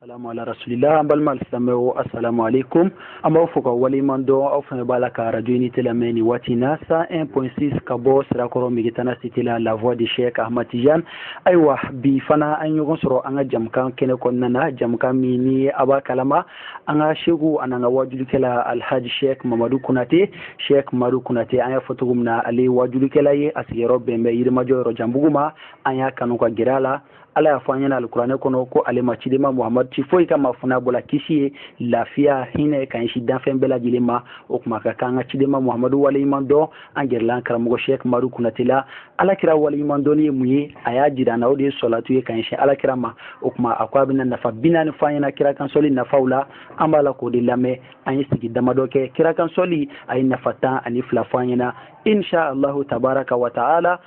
salamu ala rasulila an balima silamɛw asalamu aleykum an b'aw fo ka waleɲuman dɔn aw fana b'a la ka radio unité lamɛn nin waati in na cent un point six ka bɔ sirakɔrɔ megetana cité la la voix de cheikh ahmad tijan ayiwa bi fana an ye ɲɔgɔn sɔrɔ an ka jɛmukan kɛnɛ kɔnɔna na jɛmukan min ni a b'a kalama an ka seku an'an ka wajulikɛla alhaji sheikh mamadu konate sheikh mamadu konate an y'a fɔ cogo min na ale ye wajulikɛla ye a sigiyɔrɔ bɛn bɛ yirimajɔ yɔrɔjanbugu ma an y'a kanu ka gɛrɛ a la ala y'a fɔ an ɲɛna alikuranɛ kɔnɔ ko ale ma cidenba muhamadu ci foyi kama fo n'a bɔla kisi ye lafiya hinɛ ka ɲɛsin danfɛn bɛɛ lajɛlen ma o kuma ka kan ka cidenba muhamadu waleɲuman dɔn an gɛrɛla karamɔgɔ shek madu kunate la alakira waleɲuman dɔnni ye mun ye a y'a jira na o de ye sɔlatu ye ka ɲɛsin alakira ma o kuma a ko a bɛna nafa bi naani fɔ an ɲɛna kira kansɔli nafaw la an b'a la k'o de lamɛn an ye sigi damadɔ kɛ kira kansɔli a ye nafa tan ani fila fɔ an ɲɛna insha allahu tabaraka wa taala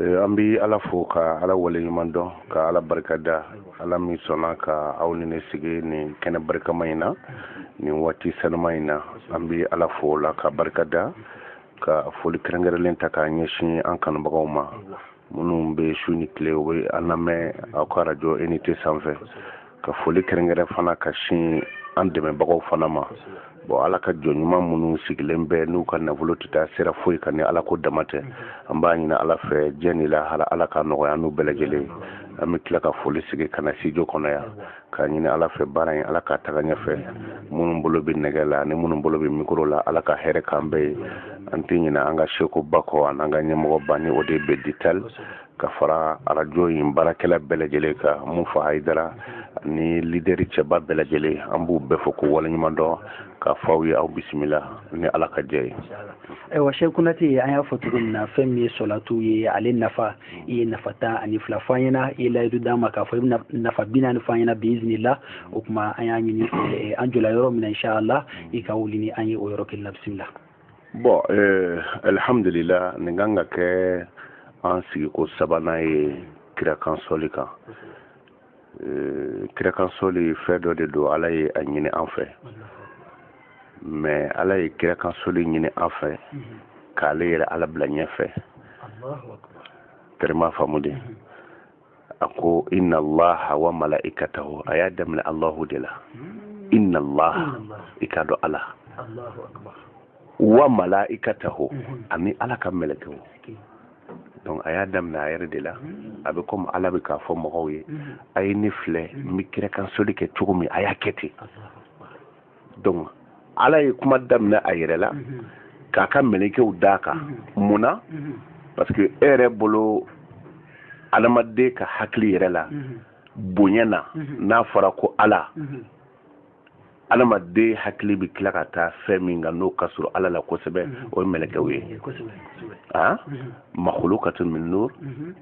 eh, an bɛ ala fo ka ala waleɲuman dɔn ka ala barika da ala min sɔnna ka aw ni ne sigi nin kɛnɛ barikama in na nin waati sanuma in na an bɛ ala fo o la ka barika da ka foli kɛrɛnkɛrɛnlen ta k'a ɲɛsin an kanubagaw ma minnu bɛ su ni tile u bɛ an lamɛn aw ka arajo unité sanfɛ ka foli kɛrɛnkɛrɛn fana ka sin an dɛmɛbagaw fana ma bon ala ka jɔn ɲuman minnu sigilen bɛ n'u ka nafolo tɛ taa sira foyi kan ni ala ko dama tɛ an b'a ɲini ala fɛ diɲɛ ni lahara ala ka nɔgɔya n'u bɛɛ lajɛlen an bɛ tila ka foli sigi ka na studio kɔnɔ yan k'a ɲini ala fɛ baara in ala k'a taga ɲɛfɛ minnu bolo bɛ nɛgɛ la ani minnu bolo bɛ mikoro la ala ka hɛrɛ k'an bɛɛ ye an tɛ ɲinɛ an ka sekuba kɔ an'an ka ɲɛmɔgɔ ba ni o de bɛdi tali ka fara arajo in baarakɛla bɛɛ lajɛlen ka mun fa hayidara ni lideri cɛba bɛɛ lajɛlen an b'u bɛɛ fo k'u waleɲuman dɔn k'a fɔ aw ye aw bisimila ni ala ka jɛn ye ayiwa shek kunate an y'a fɔ cogo min na fɛn min ye sɔlatu ye ale nafa i ye nafa tan ani fila fɔ an ɲɛna i ye layidu d'an ma k'a fɔ i bɛna nafa bi naani fɔ an ɲɛna biizinila o tuma an y'a ɲini an jɔla yɔrɔ min na inshallah i ka wuli ni an ye o yɔrɔ kelen na bisimila bɔn eh, alihamdulila nin kan ka kɛ an sigiko sabanan ye kirakan sɔli kan eh, kirakan sɔli fɛn dɔ de don ala ye a ɲini an fɛ mais ala ye kirakan sɔli ɲini an fɛ k'ale yɛrɛ ala bila ɲɛfɛ tɛrɛma faamu dɛ a ko inna allaha wa mala'ikatahu a y'a daminɛ allahu de la inna allaha i k'a dɔn ala wa mala'ikatahu mhm. ani ala ka mɛlɛkɛw donc a y'a daminɛ a yɛrɛ de la mhm. a bɛ komi ala bɛ k'a fɔ mɔgɔw ye mhm. a ye ne filɛ n bɛ kirakan sɔli kɛ cogo min a y'a kɛ ten donc ala ye kuma daminɛ a yɛrɛ la mhm. k'a ka mɛlɛkɛw d'a kan mhm. mun na mhm. parce que e yɛrɛ bolo adamaden ka hakili yɛrɛ la bonya na n'a fɔra ko ala adamaden hakili bɛ tila ka taa fɛn min kan n'o ka surun ala la kosɛbɛ o ye mɛlɛkɛw ye a ah? makolo ka to min n'o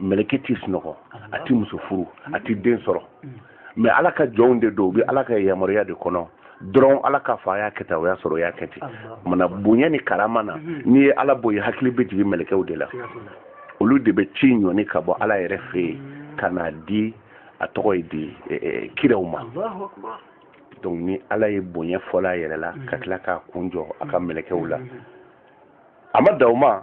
mɛlɛkɛ t'i sunɔgɔ a t'i muso furu a t'i den sɔrɔ mais ala ka jɔnw de don u bɛ ala ka yamaruya de kɔnɔ dɔrɔn ala k'a fɔ a y'a kɛ tan o y'a sɔrɔ o y'a kɛ ten mana bonya ni karama na mhm. n'i ye ala bɔ yen hakili bɛ jigin mɛlɛkɛw de la olu de bɛ ci ɲɔni ka bɔ ala yɛrɛ fɛ yen mhm. ka n'a di a tɔgɔ ye di e, e, kiraw ma donc ni ala ye bonya fɔlɔ a yɛrɛ la ka mhm. tila k'a kun jɔ a ka mɛlɛkɛw la a ma dan o ma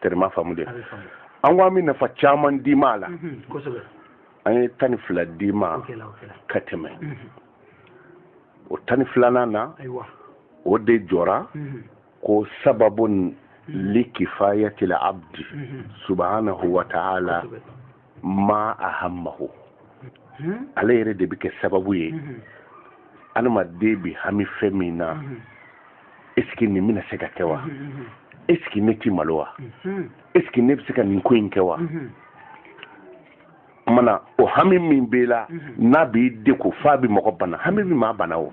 tɛrɛma faamu de an ko an bɛ nafa caman d'i ma a la an ye tan ni fila d'i ma ka tɛmɛ o tan ni filanan na o de jɔra ko sababun likifayatil abdi subhanahu wa ta'ala ma ahammahu hmm? ale yɛrɛ de bɛ kɛ sababu ye hmm. adamaden bɛ hami fɛn min na hmm. est ce que nin bɛna se ka kɛ wa est ce que ne tɛ malo wa est ce que ne bɛ se ka nin ko in kɛ wa mana o hami min b'i la n'a b'i degun f'a bɛ mɔgɔ bana hami bɛ maa bana o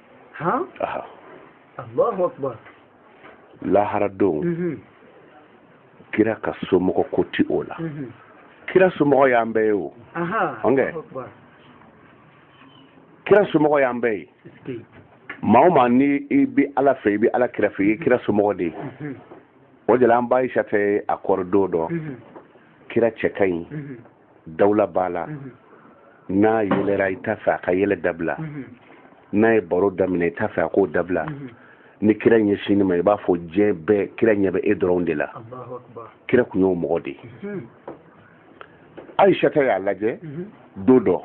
han aha allahu akbar lahara don mhm. kira ka somɔgɔ ko tɛ o la mhm. kira somɔgɔ y'an bɛɛ ye o ɔnkɛ kira somɔgɔ y'an bɛɛ ye maa o maa ni i bɛ ala fɛ i bɛ ala kira fɛ i ye kira somɔgɔ de ye mhm. o de la an ba ayisata a kɔrɔ don dɔ kira cɛ ka ɲi dawula b'a la n'a yɛlɛra i t'a fɛ a ka yɛlɛ dabila n'a ye baro daminɛ i t'a fɛ a k'o dabila ni kira ɲɛsinn'i ma i b'a fɔ diɲɛ bɛɛ kira ɲɛ bɛ e dɔrɔn de la kira tun y'o mɔgɔ de ye ayisata y'a lajɛ don dɔ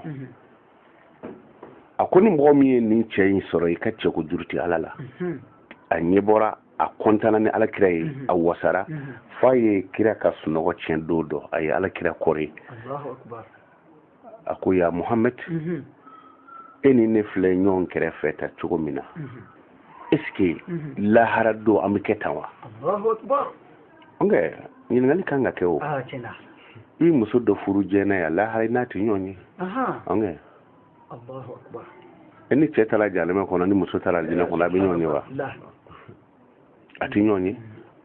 a ko ni mɔgɔ min ye nin cɛ in sɔrɔ i ka cɛko juru tɛ ala la a ɲɛ bɔra a kɔntana ni alakira ye mhm. a wasara mhm. f'a ye kira ka sunɔgɔ tiɲɛ don dɔ a ye alakira kɔri a ko ya muhamad mhm. e ni ne filɛ ɲɔgɔn kɛrɛfɛ tan cogo min na est ce que lahara don an bɛ kɛ tan wa ɔnkɛ ɲininkali kan ka kɛ o ah, i muso dɔ furu diɲɛ yan lahara i n'a tɛ ɲɔgɔn ye ɔnkɛ e ni cɛ taara jahanama kɔnɔ ni muso taara alijinɛ kɔnɔ a bɛ ɲɔgɔn ye wa a tɛ ɲɔgɔn ye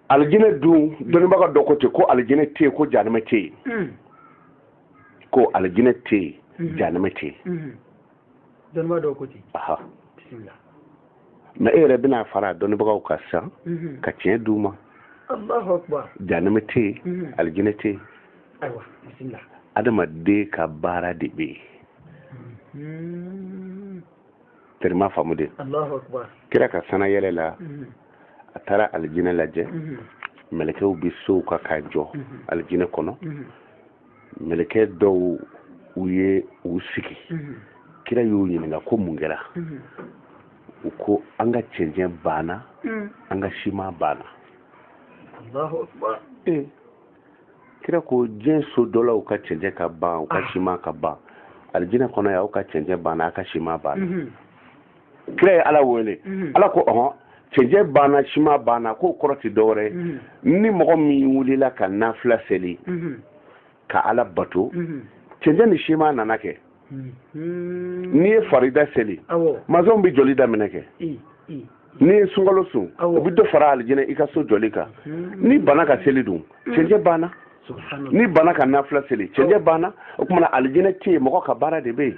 alijinɛ dun dɔnnibaga dɔ ko ten ko alijinɛ tɛ yen ko jahanama tɛ yen mm. ko alijinɛ tɛ yen mm-hmm. jahanama tɛ yen mm-hmm. dɔnnibaga dɔ ko ten mɛ e yɛrɛ bɛna fara dɔnnibagaw kan sa mhm. ka tiɲɛ d' u ma janɛmɛ tɛ yen mhm. alijinɛ tɛ yen adamaden ka baara de bɛ yen mhm. terima faamu dɛ kira ka sanayɛlɛ la a taara alijinɛ lajɛ mɛlɛkɛw bɛ sow kan k'a jɔ alijinɛ kɔnɔ mɛlɛkɛ dɔw u ye u sigi mhm. kira y'u ɲininka ko mun kɛra mhm. u ko an ka cɛncɛn banna mhm. an ka siman banna eh. kira ko diɲɛ so jɔlaw ka cɛncɛn ka ban u ka ah. siman ka ban alijinɛ kɔnɔ yan aw ka cɛncɛn banna aw ka siman banna kira ye ala wele mhm. ala ko ɔhɔn cɛncɛn banna siman banna k'o kɔrɔ tɛ dɔwɛrɛ mhm. ni mɔgɔ min wulila ka nafila seli mhm. ka ala bato cɛncɛn ni siman nana kɛ n'i ye farida seli mazɔnw bɛ jɔli daminɛ kɛ n'i ye sunkalo sun o bɛ dɔ fara alijinɛ i ka so jɔli kan n'i banna ka seli dun cɛncɛn banna n'i banna ka nafila seli cɛncɛn banna o tuma na alijinɛ tɛ yen mɔgɔ ka baara de bɛ yen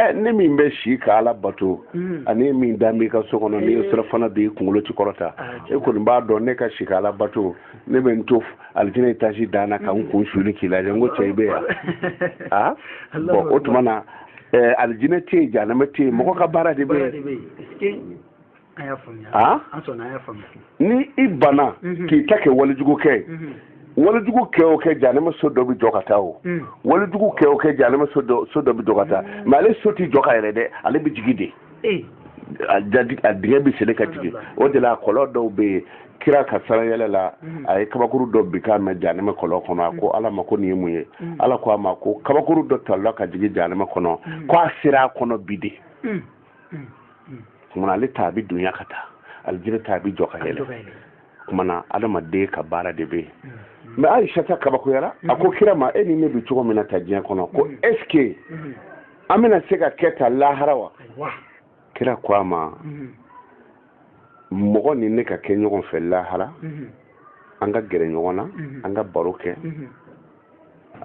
ɛ ne min bɛ si ka ala bato mm. ani e min da b'i ka so kɔnɔ n'i ye eh. sira fana b'i kunkolo tɛ kɔrɔta ah, e kɔni b'a dɔn ne ka si ka ala bato ne bɛ n to alijinɛ etazi dan na ka n mm. kun suuli k'i lajɛ n ko cɛ i bɛ yan a bɔn o tuma na alijinɛ tɛ yen janama tɛ yen mɔgɔ ka baara de bɛ yen ni i banna mhm. k'i ta kɛ walejugu kɛ mhm. walejugu kɛ o kɛ janɛma so dɔ bɛ jɔ ka taa o mhm. walejugu kɛ o kɛ janɛma so dɔ bɛ jɔ ka taa mɛ ale so tɛ jɔ ka yɛlɛ dɛ ale bɛ jigin de eh. a dingɛ bɛ sele ka jigin o de la kɔlɔn dɔw bɛ yen kira ka sarayɛlɛ la a ye kabakuru dɔ binkan mɛn janɛmɛ kɔlɔn kɔnɔ a ko ala ma ko nin ye mun ye ala ko a ma ko kabakuru dɔ talila ka jigin janɛmɛ kɔnɔ ko a sera a kɔnɔ bi de kuma na ale ta a bɛ dunya ka taa alijinɛ ta a bɛ jɔ ka yɛlɛ kuma na adamaden ka baara de bɛ yen mɛ ayisata kabakoyara a ko kira ma e ni ne bɛ cogo min na tan diɲɛ kɔnɔ ko ɛsike an bɛna se ka kɛ tan lahara wa kira ko a ma mɔgɔ ni ne ka kɛ ɲɔgɔn fɛ lahara an ka gɛrɛ ɲɔgɔn na an ka baro kɛ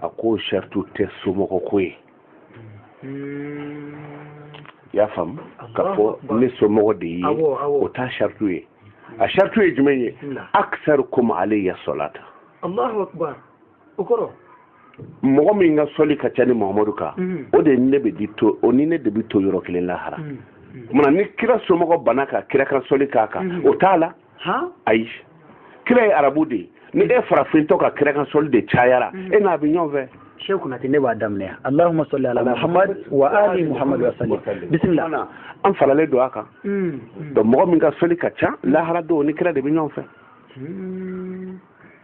a ko sarati tɛ somɔgɔ ko ye hmm. i y'a faamu k'a fɔ ne somɔgɔ de ye o t'a sarati ye a sarati ye jumɛn ye akisarukum aleya sɔlatan allahu akbar mɔgɔ min ka sɔli ka ca ne mahamadu kan hmm. o de ne bɛ di to o ni ne de bɛ to yɔrɔ kelen lahara hmm. tuma ni kira somɔgɔ bana ka kira kan sɔli k'a kan o t'a la ayi kira ye arabu de ye ni e farafintɔ ka kira kan sɔli de cayara mm. e n'a bɛ ɲɔgɔn fɛ sheikh kunate ne b'a daminɛ allahumma salli ala muhammad wa ali muhammad wa sallim bisimila an faralen don a kan mm, mm. donc mɔgɔ min ka sɔli ka ca lahara don o ni kira de bɛ ɲɔgɔn fɛ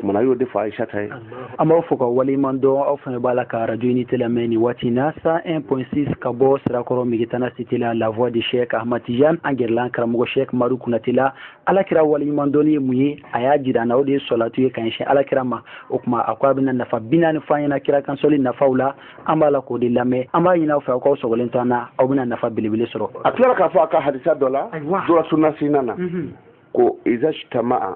kumana y'o de fɔ ayisata ye an b'aw fo k'aw waleɲuman dɔn aw fana b'a la ka arajo unité lamɛn nin waati na 101.6 ka bɔ sirakɔrɔ megetana site la la voix de chek ahmad tijan an gɛrɛla an karamɔgɔ chek madu kunate la ala kira waleɲuman dɔnni ye mun ye a y'a jira an na o de ye sɔlatu ye ka ɲɛsin ala kira ma o tuma a ko a bɛna nafa bi naani fɔ an ɲɛna kira kan sɔli nafaw la an b'a la k'o de lamɛn an b'a ɲini aw fɛ aw k'aw sɔgɔlen to an na aw bɛna nafa belebele sɔrɔ a tilara k'a fɔ a ka hadisa dɔ la dɔrɔsunasina na ko izajtama'a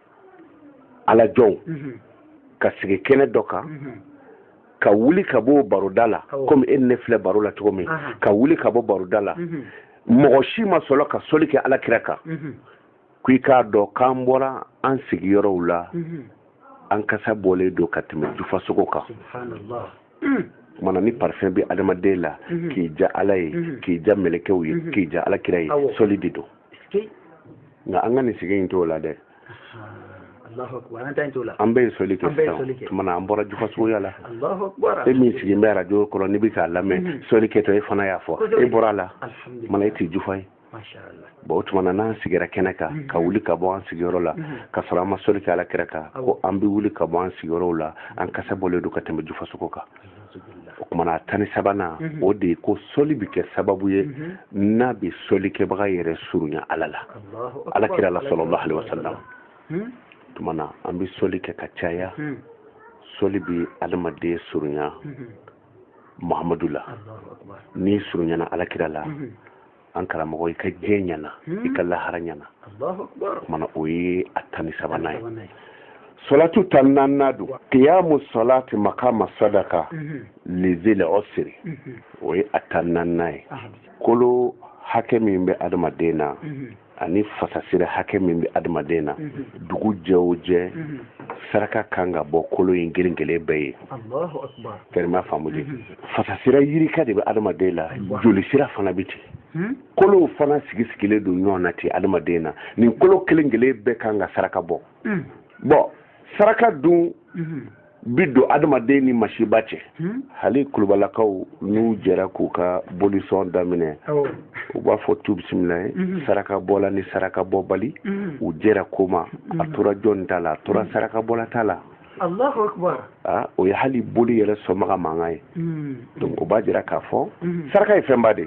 ala jɔnw mhm. ka sigi kɛnɛ dɔ kan mhm. ka wuli ka bɔ baroda la komi e ne filɛ baro la cogo min ka wuli ka bɔ baroda la mhm. mɔgɔ si ma sɔrɔ ka soli kɛ ala kira kan ko i k'a dɔn k'an bɔra an sigiyɔrɔw la an kasa bɔlen don ka tɛmɛ jufasogo kan mm. tuma na ni parfum bɛ adamaden la k'i diya ala ye k'i diya mɛlɛkɛw ye k'i diya ala kira ye soli de don nka an ka nin sigi in t'o la dɛ an bɛ soli kɛ sisan tuma na an bɔra jufasogoya la e min sigilen bɛ arajo kɔrɔ n'i bɛ k'a lamɛn mhm. soli kɛtɔ e fana y'a fɔ e bɔra a la tuma na e tɛ jufa ye bon o tuma na n'an sigira kɛnɛ kan mhm. ka wuli ka bɔ an sigiyɔrɔ la mhm. ka sɔrɔ an ma soli kɛ ala kira kan ko an bɛ wuli ka bɔ an sigiyɔrɔw la an kasa bɔlen don ka tɛmɛ jufasogo kan o tuma na a tan ni sabanan mhm. o de ye ko sɔli bɛ kɛ sababu ye mhm. n'a bɛ sɔlikɛbaga yɛrɛ surunya ala la ala kira la salallahu alayhi wasallam hmm? tuma na an bɛ sɔli kɛ ka caya hmm. sɔli bɛ adamaden surunya mhm. muhamadu la n'i surunyana ala kira la an karamɔgɔ i ka diɲɛ ɲɛna i ka lahara ɲɛna tuma na o ye a tan ni sabanan ye solatu tan ni naaninan don kiyamu solati makama sadaka li zil usri o ye a tan ni naaninan ye kolo hakɛ min bɛ adamaden na ani fasasira hakɛ min bɛ adamaden na dugu jɛ o jɛ saraka ka kan ka bɔ kolo in kelen kelen bɛɛ ye fɛrɛma faamu de fasasira yirika de bɛ adamaden la joli sira fana bɛ ten hmm? kolow fana sigi sigilen don ɲɔgɔn na ten adamaden na nin kolo kelen kelen bɛɛ kan ka saraka bɔ hmm. bon saraka dun hmm. bi don adamaden ni masiba cɛ hali kulubalakaw n'u jɛra k'u ka bolisɔn daminɛ u b'a fɔ tu bisimilayi saraka bɔla ni saraka bɔbali u jɛra ko ma a tora jɔn ta la a tora saraka bɔla ta la Allahu akbar ah, o ye hali boli yɛrɛ sɔnbaga mankan ye hmm. donc o b'a jira k'a fɔ hmm. saraka ye fɛnba de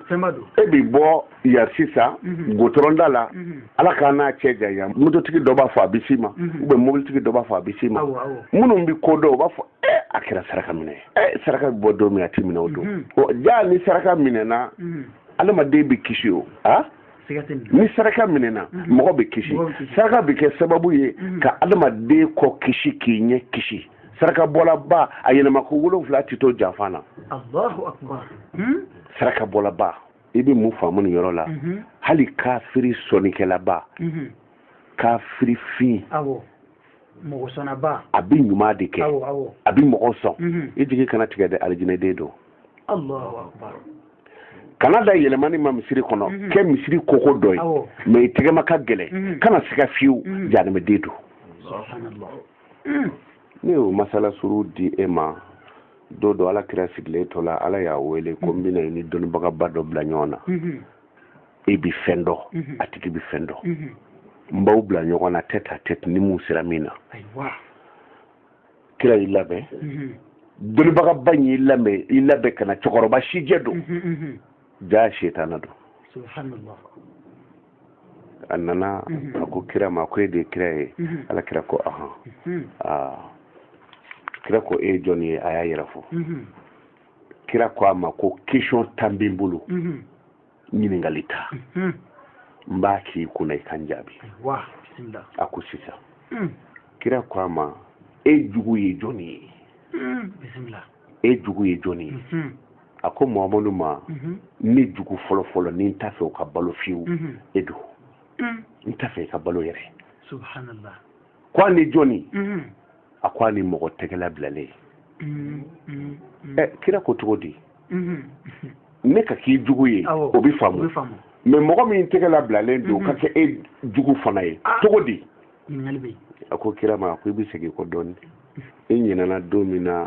e bi bɔ yan sisan hmm. gudɔrɔnda la ala k'an n'a cɛ janya mototigi dɔ b'a fɔ a bɛ s'i ma ubiyɛn mobilitigi dɔ b'a fɔ a bɛ s'i ma minnu bɛ ko dɔn o b'a fɔ e a kɛra saraka minɛ ye e saraka bɛ bɔ don min a tɛ minɛ o don jaa ni saraka minɛna adamaden bɛ kisi wa ah? ni saraka minɛna mhm. mɔgɔ bɛ kisi saraka bɛ kɛ sababu ye mhm. ka adamaden kɔ kisi k'i ɲɛ kisi saraka bɔlaba a yɛlɛma ko wolonwula tɛ to janfa na Allahu akbar saraka bɔlaba i bɛ mun faamu nin yɔrɔ la mhm. hali kafiri sɔnnikɛlaba kafiri fin mɔgɔsɔnnaba a bɛ ɲuman de kɛ a bɛ mɔgɔ sɔn mhm. i jigi kana tigɛ dɛ alijinɛden don kana da yɛlɛmani ma misiri kɔnɔ mhm. kɛ misiri koko dɔ ye mɛ i tɛgɛma ka gɛlɛn mhm. kana siga fiyewu jahanamaden don ne y'o masala suru di e ma don dɔ ala kira sigilen tola ala y'a wele ko n bɛna i ni dɔnnibagaba dɔ bila ɲɔgɔn na e bi fɛn dɔn mhm. a tigi bi fɛn dɔn mhm. n b'aw bila ɲɔgɔn na tête à tête ni mun sera min na kira y'i labɛn mhm. dɔnnibagaba in y'i labɛn i labɛn ka na cɛkɔrɔba sijɛ don jaa setana don subhanallah a nana a ko kira ma ko e de ye kira ye ala kira ko ahan kira ko e ye jɔn ye a y'a yɛrɛ fɔ kira ko a ma ko question tan bɛ n bolo ɲininkali tan n b'a k'i kunna i ka n jaabi a ko sisan hmm. kira ko a ma e jugu ye jɔni ye bisimila e jugu ye jɔni ye hmm. a ko mamadu ma ne jugu fɔlɔfɔlɔ ni n t'a fɛ o ka balo fiyewu e don n t'a fɛ i ka balo yɛrɛ subhanallah ko ani jɔni a ko ani mɔgɔ tɛgɛla bilalen mm, mm, mm. ɛ kira ko cogo di mm-hmm. ne ka k'i jugu ye o bɛ faamu mɛ mɔgɔ min tɛgɛla bilalen don ka mm-hmm. kɛ e jugu fana ye ah. cogo di a ko kira ma a ko i bɛ segin kɔ dɔɔnin i ɲinɛna don min na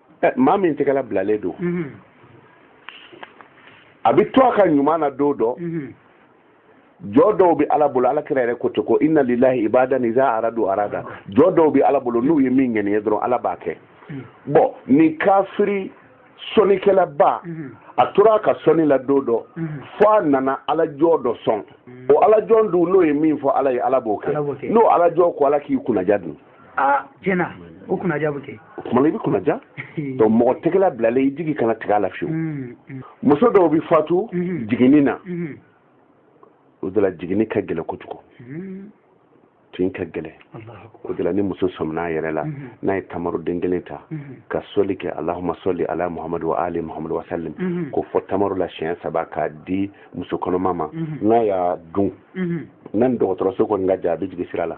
maa min tɛgɛla bilalen don a bɛ to a ka ɲuman na don dɔ jɔn dɔw bɛ ala bolo ala kira yɛrɛ ko ten ko inna lillahi ibadan iza aradu arada jɔn dɔw bɛ ala bolo n'u ye min ŋaniya dɔrɔn ala b'a kɛ bon ni kafiri sɔnnikɛlaba a tora a ka sɔnni la don dɔ fo a nana alajɔn dɔ sɔn o alajɔn dun n'o ye min fɔ ala ye ala b'o kɛ n'o alajɔn ko ala k'i kunnaja dun aa tiɲɛ na o kunnaja bɛ kɛ o tuma na i bɛ kunnaja donc mɔgɔ tɛgɛla bilalen i jigi kana tigɛ a la fiyewu mm, mm. muso dɔw bɛ fatu mm-hmm. jiginni na mm-hmm. o de la jiginni ka gɛlɛn kojugu mm-hmm. tin ka gɛlɛn o de la ni muso sɔminna a yɛrɛ la n'a ye tamaroden kelen ta ka sɔli kɛ alahuma sɔli ala muhamadu wa ali muhamadu wa salim k'o fɔ tamaro la siɲɛ saba k'a di muso kɔnɔma ma n'a y'a dun n'a ni dɔgɔtɔrɔso kɔni ka jan a bɛ jigin sira la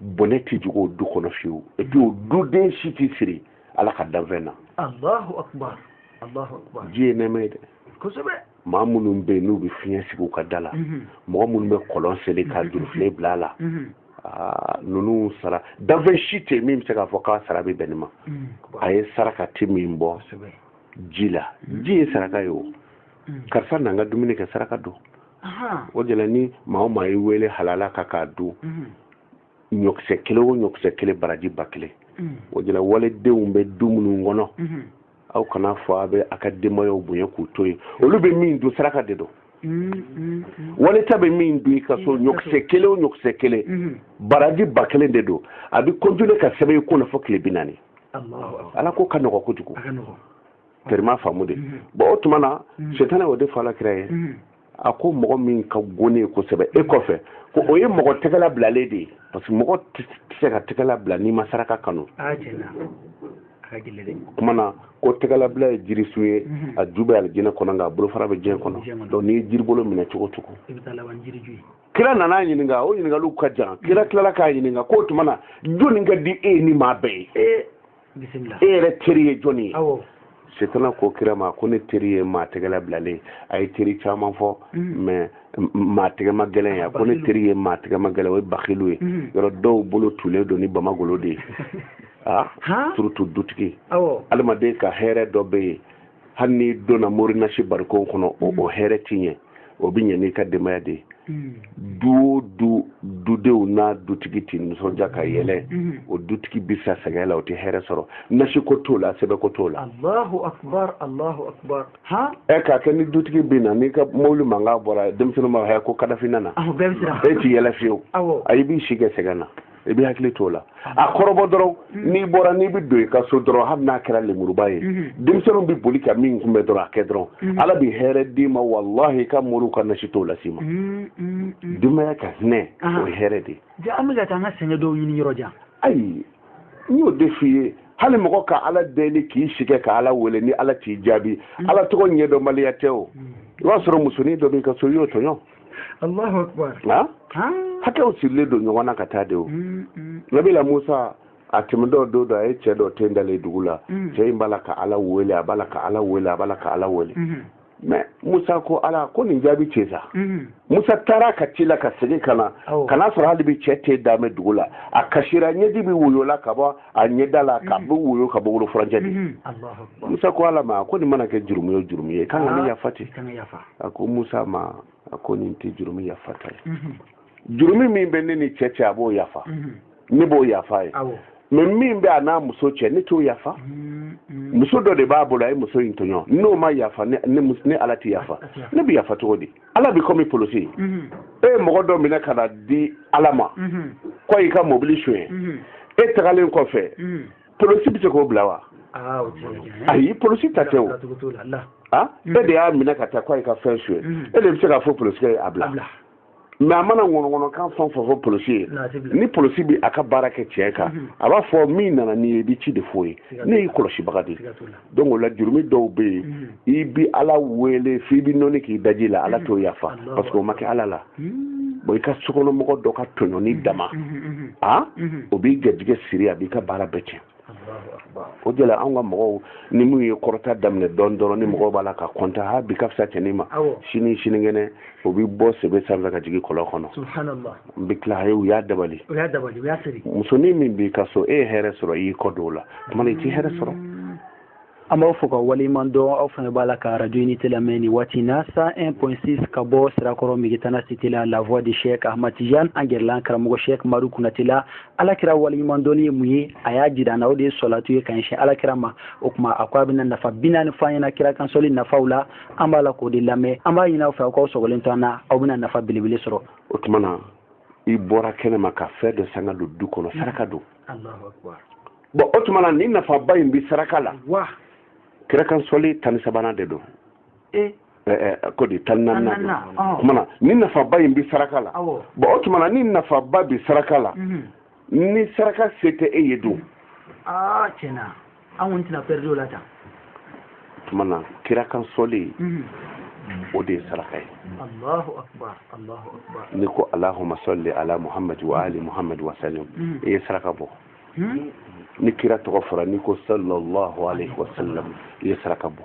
bɔnɛ tɛ jigin o du kɔnɔ fiyewu et puis o duden si tɛ siri ala ka danfɛn na alahu akubar alahu akubar ji ye nɛɛma ye dɛ kosɛbɛ maa minnu bɛ yen n'u bɛ fiɲɛ sigi u ka da la mhm. mɔgɔ minnu bɛ kɔlɔn seli ka mhm. jurufilen bila a la mhm. ah, ninnu sara danfɛn si tɛ yen min bɛ se k'a fɔ k'a sara bɛ bɛn nin ma a ye saraka caman bɔ ji la ji ye saraka ye o karisa na an ka dumuni kɛ saraka don o de la ni maa o maa ye wele halala kan k'a dun mhm. ɲɔkisɛ kelen o ɲɔkisɛ kelen baraji ba kelen mhm. o de la waledenw bɛ du minnu kɔnɔ mhm. aw kan'a fɔ a bɛ a ka denbayaw bonya k'u to yen olu bɛ min dun saraka de don waleta bɛ min dun i ka so ɲɔkisɛ kelen o ɲɔkisɛ kelen baraji ba kelen de don a bɛ continuer ka sɛbɛn i kun na fo tile bi naani ala ko ka nɔgɔ kojugu terima faamu de bon o tuma na setana o de fɔ ala kira ye a ko mɔgɔ min ka go ne ye kosɛbɛ e kɔfɛ ko o ye mɔgɔ tɛgɛla bilalen de ye parce que mɔgɔ tɛ se ka tɛgɛla bila n'i ma saraka kanu kuma na ko tɛgɛlabila ye jirisun ye a ju bɛ alijinɛ kɔnɔ nka a bolofara bɛ diɲɛ kɔnɔ donc n'i ye jiribolo minɛ cogo cogo kira nana ɲininka o ɲininkaliw ka jan kira tilala k'a ɲininka k'o tuma na jɔnni ka di e ni maa bɛɛ ye e yɛrɛ teri ye jɔni ye setana ko kira ma ko ne teri ye maa tɛgɛla bilalen ye a ye teri caman fɔ mm. mais maa tɛgɛma gɛlɛn ye a ko ne teri ye maa tɛgɛma gɛlɛn o ye bakilu ye mm. yɔrɔ dɔw bolo tulen don ni bamagolo de ye a ah, surtout dutigi adamaden ka hɛrɛ dɔ bɛ yen hali n'i donna morinasi barikon kɔnɔ o mm. hɛrɛ ti ɲɛ o bɛ ɲɛ n'i ka denbaya de ye mm. du o du dudenw n'a dutigi tɛ nisɔndiya ka yɛlɛ mm. o dutigi bɛ sa sɛgɛn la o tɛ hɛrɛ sɔrɔ nasi ko t'o la sɛbɛn ko t'o la. alahu akubar alahu akubar. han. ɛ k'a kɛ ni dutigi bɛ na n'i ka mobili mankan bɔra denmisɛnninw b'a fɔ ko kadafi nana. awɔ bɛɛ bɛ siran. e ti yɛlɛ fiyewu. awɔ. ayi i b'i si kɛ sɛgɛn na. i b'i hakili t'o la a kɔrɔbɔ dɔrɔn mm-hmm. n'i bɔra n'i bɛ don i ka so dɔrɔn hali n'a kɛra lemuruba ye mm-hmm. denmisɛnninw bɛ boli ka min kunbɛn dɔrɔn a kɛ dɔrɔn mm-hmm. ala bɛ hɛrɛ d'i ma walahi i ka moriw ka nasi t'o las'i ma denbaya ka hinɛ o ye hɛrɛ de ye an bɛ ka taa an ka sɛgɛn dɔw ɲini yɔrɔ jan ayi n y'o de f'i ye hali mɔgɔ ka ala deli k'i sigi ka ala wele ni ala t'i jaabi ala tɔgɔ ɲɛdɔnbaliya tɛ o i b'a sɔrɔ musonin dɔ b'i ka so i y'o tɔɲɔ Allahu akbar na hakɛw sirilen don ɲɔgɔn na ka taa de o mm, mm. nabila musa a tɛmɛtɔ don dɔ a ye cɛ dɔ ten dalen dugu la mm. cɛ in b'a la ka ala wele a b'a la ka ala wele a b'a la ka ala wele mm-hmm. mɛ musa ko ala ko nin jaabi ten sa mm-hmm. musa taara ka tila ka segin ka na ka n'a sɔrɔ hali bi cɛ ten dalen bɛ dugu la a kasira ɲɛji bi woyola ka bɔ a ɲɛda la ka bɛ woyo ka bɔ wolo furancɛ de musa ko ala ma ko nin mana kɛ jurumu o jurumu ye kan ka nin yafa ten a ko musa ma a ko nin tɛ jurumu yafata ye jurumu min bɛ ne ni cɛ cɛ a b'o yafa ne b'o yafa a ye mɛ min bɛ a n'a muso cɛ ne t'o yafa muso dɔ de b'a bolo a ye muso in tɔɲɔ n'o ma yafa ne ala tɛ yafa ne bɛ yafa cogo di ala bi komi polosi mhm. e ye mɔgɔ dɔ minɛ ka n'a di ala ma mhm. ko a y'i ka mobili suɲɛ mhm. e tagalen kɔfɛ polosi bɛ se k'o bila wa ah, ayi polosi ta tɛ o ah, e de y'a minɛ ka taa ko a y'i ka fɛn suɲɛ e de bɛ se k'a fɔ polosikɛ ye a bila mɛ a mana ŋɔnɔŋɔnɔkan fɛn o fɛn fɔ polosi ye ni polosi bɛ a ka baara kɛ tiɲɛ kan a b'a fɔ min nana n'i ye i bɛ ci de f'o ye ne y'i kɔlɔsibaga de ye donc o la jurumi dɔw bɛ yen mm. i bi ala wele f'i bi nɔni k'i daji la ala mm. t'o yafa parce que o ma kɛ ala la mm. bon i ka sokɔnɔmɔgɔ dɔ ka tɔɲɔni dama a o b'i garijɛgɛ siri a b'i ka baara bɛɛ tiɲɛ o de la anw ka mɔgɔw ni minnu ye kɔrɔta daminɛ dɔɔni dɔrɔn ni mɔgɔw b'a la ka kɔntan ha bi ka fisa cɛnin ma sini sinikɛnɛ o bɛ bɔ sebe sanfɛ ka jigin kɔlɔn kɔnɔ n bɛ tila ye u y'a dabali musonin min b'i ka so e ye hɛrɛ sɔrɔ i y'i kɔ don o la tuma i t'i hɛrɛ sɔrɔ mm. an b'aw fo k'aw waleɲuman dɔn aw fana b'a la ka arajo nin de lamɛn nin waati na 101.6 ka bɔ sirakɔrɔ megetana site la la voix de chek ahmad tijan an gɛrɛlen karamɔgɔ chek madu kɔnatɛ la ala kira waleɲuman dɔnni ye mun ye a y'a jira an na o de ye sɔlatu ye ka ɲɛsin ala kira ma o tuma a ko a bɛna nafa bi naani fɔ an ɲɛna kira kansɔli nafaw la an b'a la k'o de lamɛn an b'a ɲini aw fɛ aw k'aw sɔgɔlen to an na aw bɛna nafa belebele sɔrɔ o tuma na i bɔra kɛnɛ ma ka fɛn dɔ san ka don du kɔnɔ saraka don bɔn o tuma na ni nafaba in bɛ saraka la kira kansɔli tan ni sabanan de don e? ko di tan ni naaninan don tuma na ni nafaba in bɛ saraka la bɔn o tuma na ni nafaba bɛ saraka la mhm. ni saraka se tɛ e ye don aa tiɲɛna an kɔni tɛna pɛridi o la tan tuma na kira kan sɔli mhm. o de ye saraka ye n'i ko alahuma sɔli ala muhamadi wa ali muhamadi wa salim mhm. i ye saraka bɔ mhm. ni kira tɔgɔ fɔra n'i ko sallallahu alaihi wa sallam i ye saraka bɔ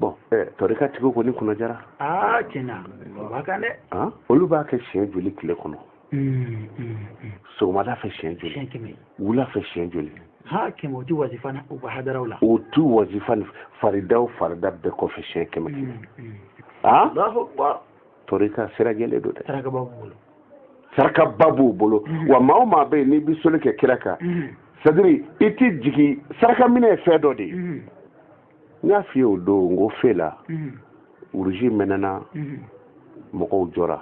bɔn eh, tɔrika tigiw kɔni kunna jara aa tiɲɛna u b'a kan dɛ ah, olu b'a kɛ siɲɛ joli tile kɔnɔ hmm, hmm, hmm. sɔgɔmada fɛ siɲɛ joli wula fɛ siɲɛ joli ha kɛmɛ o ti wazifa na u ka hadaraw la o ti wazifa ni faridaw farida bɛɛ kɔfɛ siɲɛ kɛmɛ kɛmɛ a ah? tɔrika sira jɛlen don dɛ sarakaba b'u bolo sarakaba b'u bolo wa maa o maa bɛ yen n'i bɛ sɔli kɛ kira kan c'est-à-dire i ti jigin saraka minɛ ye fɛn dɔ de ye n y'a f'i ye o don n ko fe la uruzi mɛnɛna mɔgɔw jɔra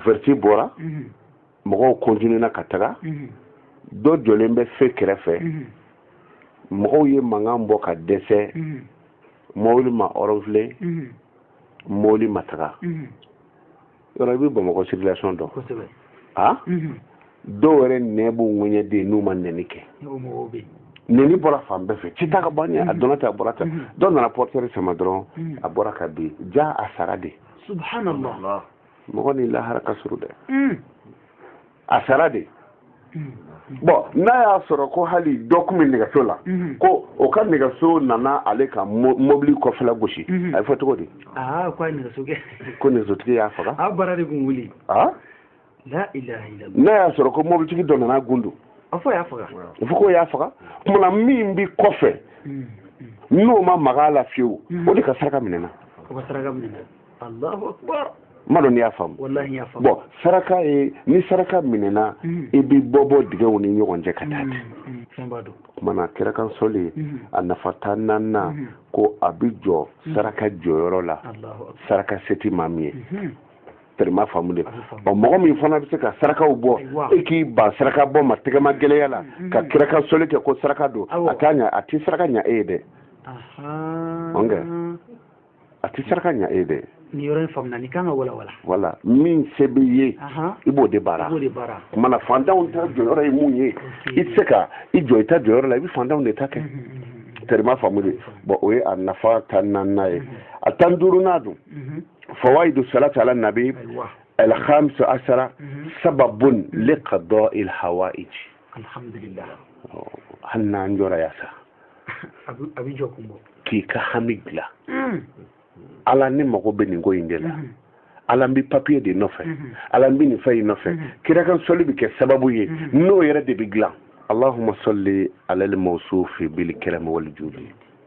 vɛriti bɔra mɔgɔw kɔntinena ka taga dɔ jɔlen bɛ fe kɛrɛfɛ mɔgɔw ye mankan bɔ ka dɛsɛ mɔbili ma ɔrɔnfile mɔbili ma taga yɔrɔ i bɛ bamakɔ circulation dɔn a dɔw yɛrɛ nɛn b'u ŋɛɲɛ de n'u ma nɛni kɛ nɛni bɔra fan bɛɛ fɛ cɛ ta ka bɔ an ɲɛ a donna tan a bɔra tan dɔ nana portière sama dɔrɔn a bɔra ka bin jaa a sara de mɔgɔ ni lahara ka surun dɛ a sara de bɔn n'a y'a sɔrɔ ko hali dɔ tun bɛ nɛgɛso la mhm. ko o ka nɛgɛso nana ale ka mobili kɔfɛla gosi mhm. a bɛ fɔ cogo di ah, ko nɛgɛsotigi y'a faga ah, ah? n'a y'a sɔrɔ ko mobilitigi dɔ nana gundu a fɔ k'o y'a faga tuma na min bɛ kɔfɛ mhm. n'o ma maga a la fiyewu o de ka saraka minɛna m'a dɔn n'i y'a faamu bɔn saraka ye ni saraka minɛna mm. i bɛ bɔ bɔ dingɛw ni ɲɔgɔn cɛ ka taa ten mm, mm, tuma na kira kan sɔli a nafa tan naaninan ko a bɛ jɔ saraka jɔyɔrɔ la saraka se ti maa min ye tɛrɛ m'a faamu de ɔ mɔgɔ min fana bɛ se ka sarakaw bɔ e k'i ban saraka bɔ ma tɛgɛmagɛlɛya la ka kira kan sɔli kɛ ko saraka don a t'a ɲa a tɛ saraka ɲa e ye dɛ a tɛ saraka ɲa e ye dɛ nin yɔrɔ in faamuna nin kan ka walawala voilà min se b'i ye i b'o de baara tuma na fantanw ta jɔyɔrɔ ye mun ye mhm. i tɛ se ka i jɔ i ta jɔyɔrɔ la i bɛ fantanw de ta kɛ mhm. tɛrɛ m'a faamu de bɔn o ye a nafa tan naaninan ye mhm. a tan duurunan dun fawayidu salati ala nabi alhamisa asara sababun li kada ilhawayiji alhamdulillah oh, hali n'an jɔra yan sa a b'i jɔ kun bɔ k'i ka hami dilan hmm. ala ne mago bɛ nin ko in de la hmm. ala n bɛ papiye de nɔfɛ hmm. ala n bɛ nin fɛn in nɔfɛ kira kan sɔli bɛ kɛ sababu ye n'o yɛrɛ de bɛ dilan allahumma salli ala al-mawsufi bil karam wal judi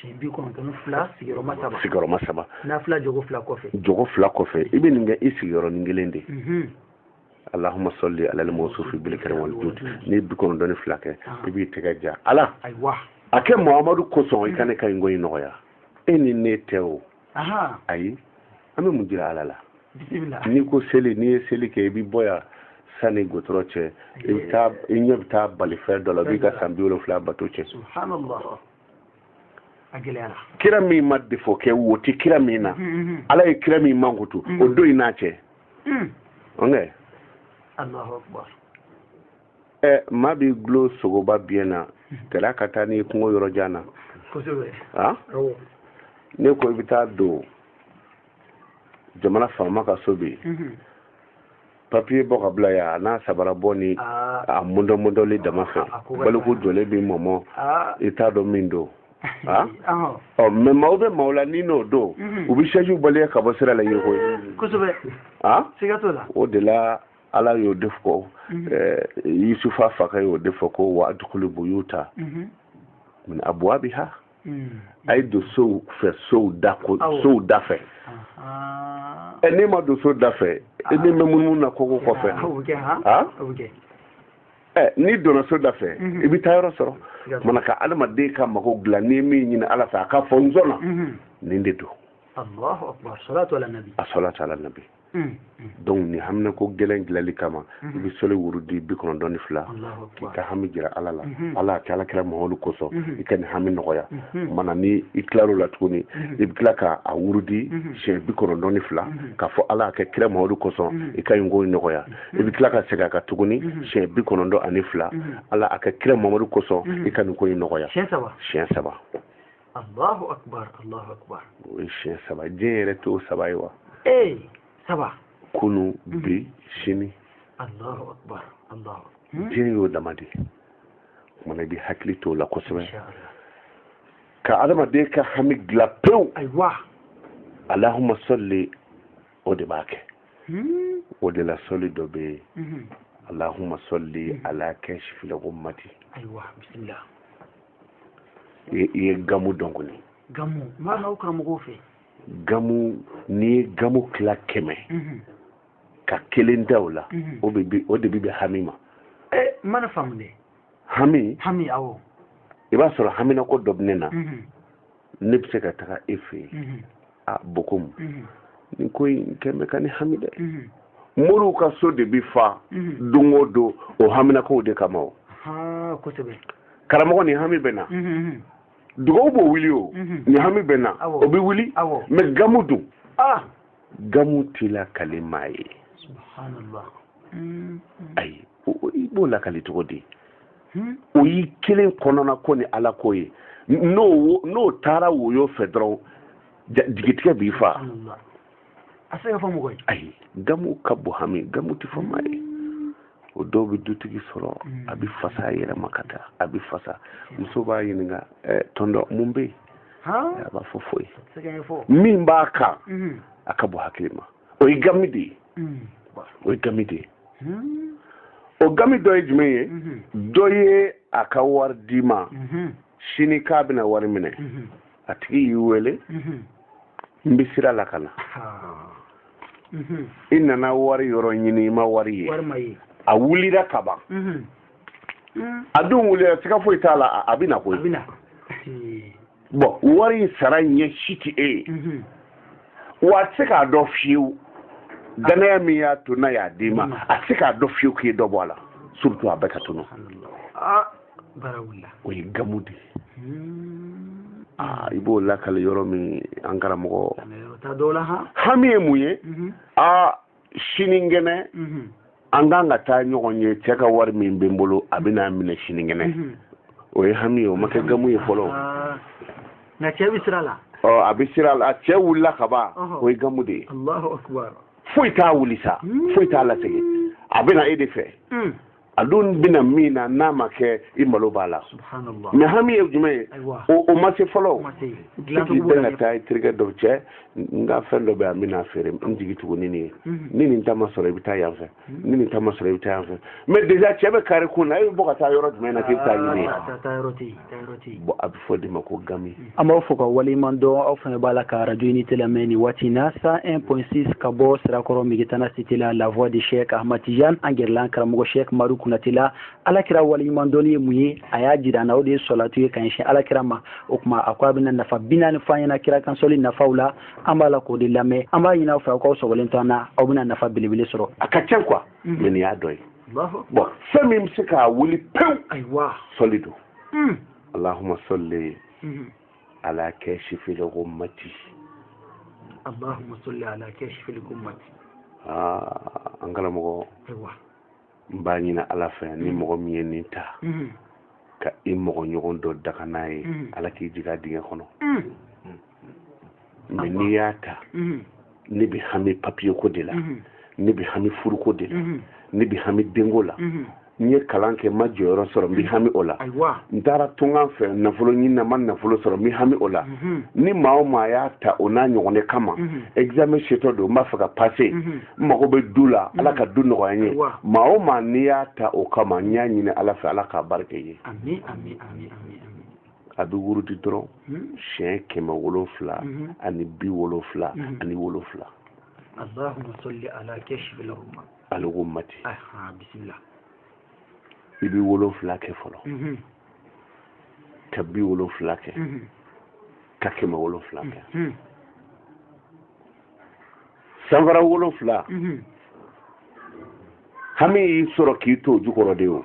si bi kɔnɔntɔn fila sigiyɔrɔma saba sigiyɔrɔma saba nafila jɔko fila kɔfɛ jɔko fila kɔfɛ i bɛ nin kɛ i sigiyɔrɔnin kelen de mhm. allahumma salli ala al-mawsufi bil karam wal judi n'i ye bi kɔnɔntɔn ni fila kɛ ah. i b'i tɛgɛ da ala a kɛ mamadu kosɔn i ka ne ka nin ko in nɔgɔya e ni ne tɛ o ayi an bɛ mun jira ala la n'i ko seli n'i ye seli kɛ i bɛ bɔ yan sani gudɔrɔn cɛ i bɛ taa i ɲɛ bɛ taa balifɛn dɔ la b'i ka san bi wolonfila bato cɛn kira min ma defo kɛ wo tɛ kira min na mm-hmm, mm-hmm. ala ye kira min mankutu o mm-hmm. don in n'a cɛ mm. ɛ maa b'i dulon sogoba biɲɛ na gɛlɛya ka taa n'i kungo yɔrɔ jan na a n'i ko i bɛ taa don jamana faama ka so bi mhm. papiye bɔ ka bila yan a n'a sabara bɔ ni ah. a mundɔmundɔli dama fɛ baliku jɔlen b'i mɔmɔ ah. i t'a dɔn min don Ah? ɔ mɛ maaw bɛ maaw la ni n'o don mhm. u bɛ se k'i bali yan ka bɔ sira la yɛrɛ koyi kosɛbɛ ah? siga t'o la o de la ala y'o de fɔ mhm. eh, yusufu fakɛ y'o de fɔ ko wa udkhulu buyuta mhm. min abwabiha mhm. a ye don sow fɛ sow da ko sow da fɛ ɛ n'e ma don so da fɛ e ni bɛ munumunu na koko kɔfɛ ha ɛ n'i donna so da fɛ i bɛ taa yɔrɔ sɔrɔ mana ka adamaden ka mago dilan n'i ye min ɲini ala fɛ a ka fɔ n sɔnna nin de don assalatu ala nabi Mm. donc nin haminako gɛlɛn dilanni kama mm-hmm. i bɛ sɔli wurudi bi kɔnɔntɔn ni fila k'i ka hami jira ala la mm-hmm. ala a kɛ ala kira mamadu kosɔn mm-hmm. i ka nin hami nɔgɔya mana ni i tilar'o la tuguni i bɛ tila ka a wurudi siɲɛ bi kɔnɔntɔn ni fila k'a fɔ ala a kɛ kira mamadu kosɔn i ka nin ko in nɔgɔya i bɛ tila ka segin a kan tuguni siɲɛ bi kɔnɔntɔn ani fila ala a kɛ kira mamadu kosɔn i ka nin ko in nɔgɔya siɲɛ saba Allahu akbar Allahu akbar o ye siɲɛ saba diɲɛ yɛrɛ t'o saba ye wa ee saba kunun mhm. bi sini Allahu akbar Allahu hmm? diɲɛ y'o dama de ye kumana i b'i hakili t'o la kosɛbɛ ka adamaden ka hami dilan pewu ayiwa allahumma salli o de b'a kɛ hmm? o de la sɔli dɔ bɛ yen mhm. allahumma salli mhm. ala kashifil ghummati ayiwa bisimila i ye gamu dɔn kɔni gamu m'a n'aw karamɔgɔw fɛ gamu n'i ye gamu tila kɛmɛ mhm. ka kelen ta o la mhm. o de bi bɛn hami ma eh, n ma nin faamu dɛ hami hami awɔ i b'a sɔrɔ haminako dɔ bɛ ne na mhm. ne bɛ se ka taga e fɛ yen a bokomu mhm. nin ko in kɛlen bɛ ka ne hami dɛ mhm. moriw ka so de bi fa mhm. don o don o haminakow de kama o karamɔgɔ nin hami bɛ n na dugawu b'o wuli o nin hami bɛ n na o bɛ wuli mais gamu dun ah! gamu ti lakali maa ye ayi i b'o lakali cogo di hmm? o y'i kelen kɔnɔna ko ni ala ko ye n'o n'o taara woyo fɛ dɔrɔn jigitigɛ b'i faa a se ka fɔ mɔgɔ ye ayi gamu ka bon hami gamu tɛ fɔ maa ye hmm. o dɔw bɛ dutigi sɔrɔ hmm. a bɛ fasa a yɛrɛ ma ka taa a bɛ fasa muso b'a ɲininka eh, tonton mun bɛ yen a b'a fɔ foyi min b'a kan a ka bon hakili ma o ye gami de ye o ye gami de ye o gami dɔ ye jumɛn ye dɔ ye a ka wari d'i ma sini k'a bɛna wari minɛ a tigi y'i wele n bɛ sira la ka na i nana wari yɔrɔ ɲini i ma wari ye a wulira ka ban a dun wulila siga foyi t'a la a bɛ na koyi bon wari in sara ɲɛ si tɛ e ye mhm. wa a tɛ se k'a dɔn fiyewu dannaya min y'a to n'a y'a d'i ma mhm. a tɛ se k'a dɔn fiyewu k'i ye dɔ bɔ a la surtout a bɛɛ ka tunu ah, o ye gamu de ye hmm. ah, i b'o lakali yɔrɔ min an karamɔgɔ hami ye mun ye aa mhm. ah, sinikɛnɛ mhm. an kan ka taa ɲɔgɔn ye cɛ ka wari min bɛ n bolo a bɛ n'a minɛ sinikɛnɛ mhm. o ye hami ye o ma kɛ gamu ye fɔlɔ ah. nka cɛ bɛ sira la a bɛ sira la cɛ wulila ka ban o ye gamu de ye allahu akbar foyi t'a wuli sa hmm. foyi t'a lasegin a bɛ na e de fɛ hmm. a dun bɛna min na n'a ma kɛ i malo b'a la mais hami ye jumɛn ye o ma se fɔlɔ k'i bɛn ka taa i terikɛ dɔw cɛ n ka fɛn dɔ bɛ yan n bɛna feere n jigi tugu ni nin ye mhm. ni nin ta ma sɔrɔ i bɛ taa yan fɛ mhm. ni nin ta ma sɔrɔ i bɛ taa yan fɛ mais déjà cɛ bɛ kari i kun na e bɛ bɔ ka taa yɔrɔ jumɛn na k'i bɛ taa a ɲini yen bon a bɛ fɔ o de ma ko gami an b'aw fo ka waleɲuman dɔn aw fana b'a la ka radio unité lamɛn nin waati na cent un point six ka bɔ sirakɔrɔ megetana cité la la voix de cheick ahmad tijan an gɛrɛlen karamɔgɔ cheick madu konate la ala kira waleɲuman dɔnni ye mun ye a y'a jira an na o de ye salatu ye ka ɲɛsin ala kira ma o tuma a ko a bɛna nafa binaani fɔ an ɲɛna kira kan seli nafaw la an b'a la k'o de lamɛn an b'a ɲini aw fɛ aw k'aw sɔgɔlen to an na aw bɛna nafa belebele sɔrɔ a ka ca quoi mais nin y'a dɔ ye bon fɛn min bɛ se k'a wuli pewu sɔli don hmm. alahuma sɔli hmm. ala kasifil gumati alahuma sɔli ala kasifil gumati aa an karamɔgɔ n b'a ɲini ala fɛ ni hmm. mɔgɔ min ye nin ta ka i mɔgɔ ɲɔgɔn dɔ danga n'a ye ala k'i jigin a dingɛ kɔnɔ mɛ n'i y'a ta ne bɛ hami papiye ko de la ne bɛ hami furuko de la ne bɛ hami denko la n ye kalan kɛ n ma jɔyɔrɔ sɔrɔ n bɛ hami o la n taara tunga fɛ nafolo ɲini na n ma nafolo sɔrɔ n bɛ hami o la mhm. ni maa o maa y'a ta o n'a ɲɔgɔn de kama mhm. examen setɔ don n b'a fɛ ka pase mhm. n mago bɛ du la ala ka du nɔgɔya n ye maa o maa n'i y'a ta o kama n y'a ɲini ala fɛ ala k'a baara kɛ i ye a bɛ wurudi dɔrɔn hmm. siɲɛ kɛmɛ wolonfila hmm. ani bi wolonfila hmm. ani wolonfila allahumma salli ala kashifil ghummati bisimila i bɛ wolonfila kɛ fɔlɔ ka bi wolonfila kɛ ka kɛmɛ wolonfila kɛ sanfara wolonfila hami y'i sɔrɔ k'i to o jukɔrɔ de o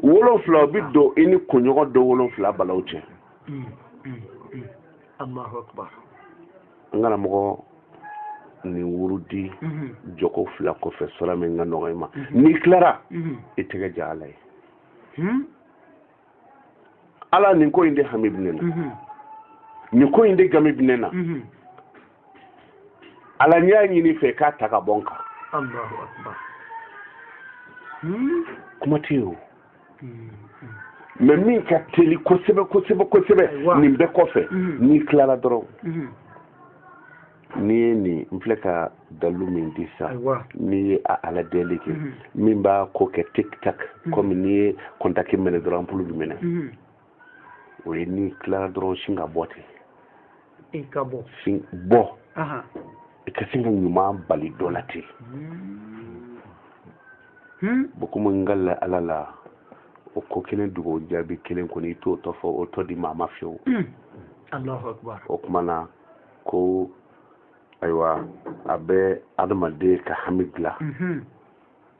wolonfila o bi don i ni kunɲɔgɔn don wolonfila balaw cɛ mm, mm, mm. n kana mɔgɔ nin wurudi mm-hmm. jɔko fila kɔfɛ suura min ka nɔgɔ i ma mm-hmm. n'i tilara mm-hmm. i tɛgɛ ja ala ye hmm? ala nin ko in de hami bɛ ne na nin ko in de gami bɛ ne na ala n y'a ɲini i fɛ k'a ta ka bɔ n kan hmm? kuma tɛ yen o hmm, hmm. mɛ min ka teli kosɛbɛ kosɛbɛ kosɛbɛ nin bɛɛ kɔfɛ n'i tilala dɔrɔn n'i ye nin n filɛ ka dalilu min di sa n'i ye a ala deli kɛ min b'a ko kɛ tik tak kɔmi n'i ye kɔntaki mɛnɛ dɔrɔn anpulu bɛ mɛnɛ o ye n'i tilara dɔrɔn sin ka bɔ ten i ka bɔ sin bɔ i ka sin ka ɲuman bali dɔ la ten hmm. bon komi n ka la ala la o ko kelen dugu o jaabi kelen kɔni i t'o tɔ fɔ o tɔ di maa ma fiyewu hmm. o kuma na ko ayiwa a bɛ adamaden ka hami dilan hmm.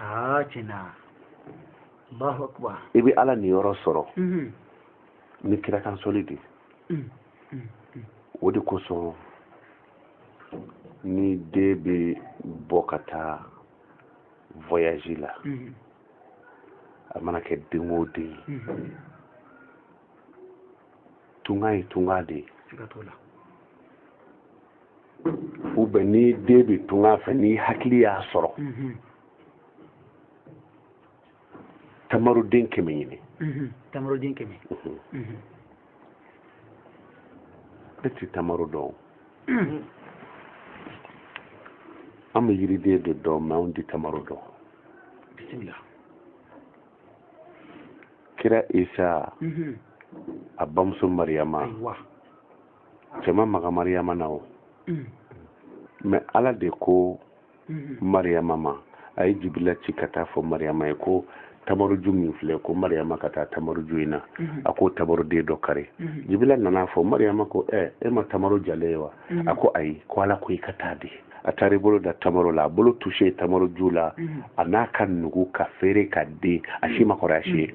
aa tiɲɛna Allahu akbar i bɛ Ala niyɔrɔ sɔrɔ ni kira kan sɔli de o de kosɔn ni den bɛ bɔ ka taa voyage la a mana kɛ den o den ye tunga ye tunga de ye u bɛ ni den bɛ tunga fɛ ni hakili y'a sɔrɔ mhm. tamaroden kɛmɛ ɲini mhm. tamaroden kɛmɛ mhm. e ti tamaro dɔn an bɛ yiriden de dɔn mɛ anw ti tamaro dɔn bisimila kira isa a bamuso mariyama cɛ ma maga mariyama na o mm. mɛ ala de ko mm-hmm. mariyama ma a ye jibila ci ka taa fɔ mariyama ye ko tamaro ju min filɛ ko mariyama ka taa tamaro ju in na mm-hmm. a ko tamaroden dɔ kari mm-hmm. jibila nana a fɔ mariyama ko ɛ e ma tamaro jalen ye wa a ko ayi ko ala ko i ka taa dɛ a taar'i bolo da tamaro la a bolo tuse tamaro ju la an'a ka nugu ka feere ka den a si ma kɔrɔ a si ye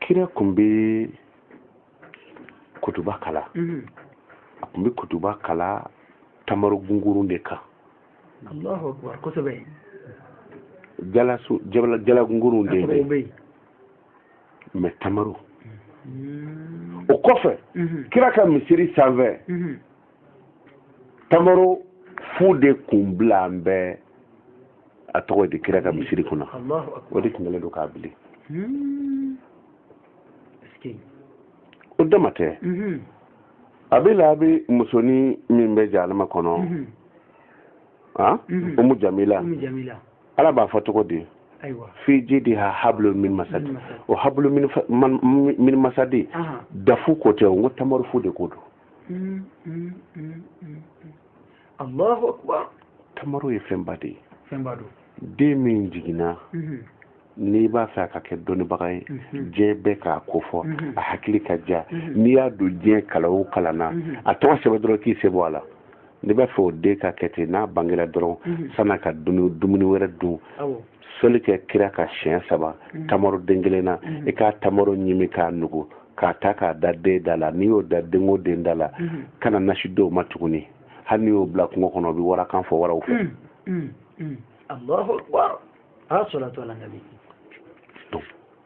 kira kun bɛ kutuba kalan mhm. a kun bɛ kutuba kalan tamaro gungurun de kan jala gungurun de bɛ mɛ tamaro mhm. o kɔfɛ mhm. kira ka misiri sanfɛ tamaro fu de kun bilalen bɛ a tɔgɔ di kira ka misiri kun na o de tun kɛlen don k'a bili hmm. o dama tɛ mhm. abu lahabi musonin min bɛ jahanama kɔnɔ mhm. ah? mhm. umu jamila ala b'a fɔ cogo di fi jidiha hablun min masad o hablun min masadi dafu ko tɛ o n ko tamaro fu de ko don Mm, mm, mm, mm, mm. allahu akbar tamaro ye fɛnba de ye fɛnba don den min jiginna Mhm, n'i b'a fɛ a ka kɛ dɔnnibaga ye Mhm. diɲɛ bɛɛ k'a ko fɔ Mhm. a hakili ka diya Mhm. n'i y'a don diɲɛ kalan o kalan na Mhm. a tɔgɔ sɛbɛn dɔrɔn k'i sen bɔ a la n'i b'a fɛ o den ka kɛ ten n'a bangera dɔrɔn Mhm. san'a ka dumuni dumuni wɛrɛ dun awɔ sɔli kɛ kira kan siɲɛ saba mm. tamaro den kelen na mm. i ka tamaro ɲimi k'a nugu k'a ta k'a da den da la n'i y'o da den o den da la mm. kana nasi d'o ma tuguni hali n'i y'o bila kungo kɔnɔ o bɛ warakan fɔ waraw fɛ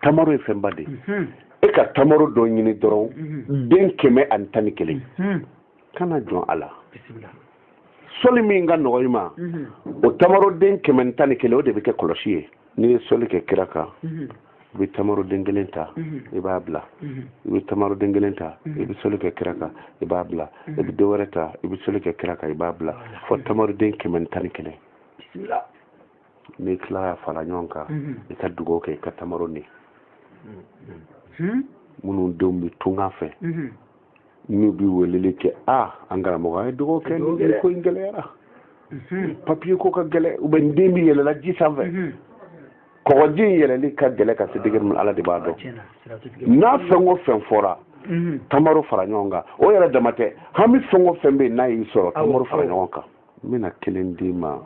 tamaro ye fɛnba de ye mm-hmm. e ka tamaro dɔ ɲini dɔrɔn mm-hmm. den kɛmɛ ani tan ni kelen mm-hmm. kana jɔn a la sɔli min ka nɔgɔn i ma mhm. o tamaroden kɛmɛ ni tan ni kelen o de bɛ kɛ kɔlɔsi ye n'i ye sɔli kɛ kira kan mhm. i bɛ tamaroden kelen ta mhm. i b'a bila i bɛ tamaroden kelen ta i bɛ sɔli kɛ kira kan i b'a bila i bɛ dɔ wɛrɛ ta i bɛ sɔli kɛ kira kan i b'a bila fo tamaroden kɛmɛ ni tan ni kelen n'i tilala fara ɲɔgɔn kan i ka dugawu kɛ i ka tamaro ɲimi minnu denw bɛ tunga fɛ n'u bɛ weleli kɛ aa an karamɔgɔ an ye dɔgɔ kɛ nin ko in gɛlɛyara papiye ko ka gɛlɛ u bɛ n den bɛ yɛlɛla ji sanfɛ kɔgɔji in yɛlɛli ka gɛlɛ ka se degere min ala de b'a dɔn n'a fɛn o fɛn fɔra tamaro fara ɲɔgɔn kan o yɛrɛ dama tɛ hami fɛn o fɛn bɛ yen n'a y'i sɔrɔ tamaro fara ɲɔgɔn kan n bɛna kelen d'i ma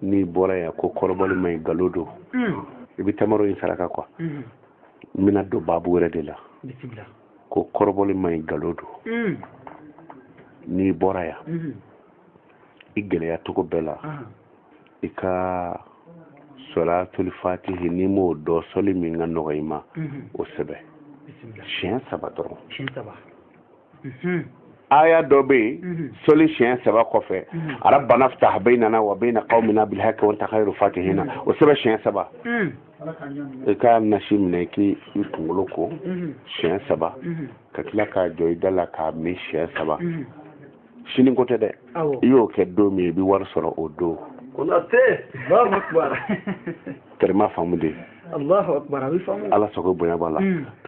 n'i bɔra yan ko kɔrɔbɔli man ɲi galo don i bɛ tamaro in saraka kuwa n bɛna don baabu wɛrɛ de la ko kɔrɔbɔli man ɲi galo don mm. n'i bɔra yan mm-hmm. i gɛlɛya cogo bɛɛ la ah. i ka sɔlatuli fatihi n'i m'o dɔn sɔli min ka nɔgɔ i ma mm-hmm. o sɛbɛn siɲɛ saba dɔrɔn mm-hmm. aya dɔ bɛ yen mhm. sɔli siɲɛ saba kɔfɛ mhm. arabana fita baynana wa bayna kawmina bilhaki wa anta kayiru fatihina mhm. o sɛbɛn siɲɛ saba i ka nasi minɛ k'i kunkolo ko siɲɛ saba ka tila k'a jɔ i da la k'a min siɲɛ saba sini ko tɛ dɛ i y'o kɛ don min i bɛ wari sɔrɔ o don tɛrɛma faamu de ala sago bonya b'a la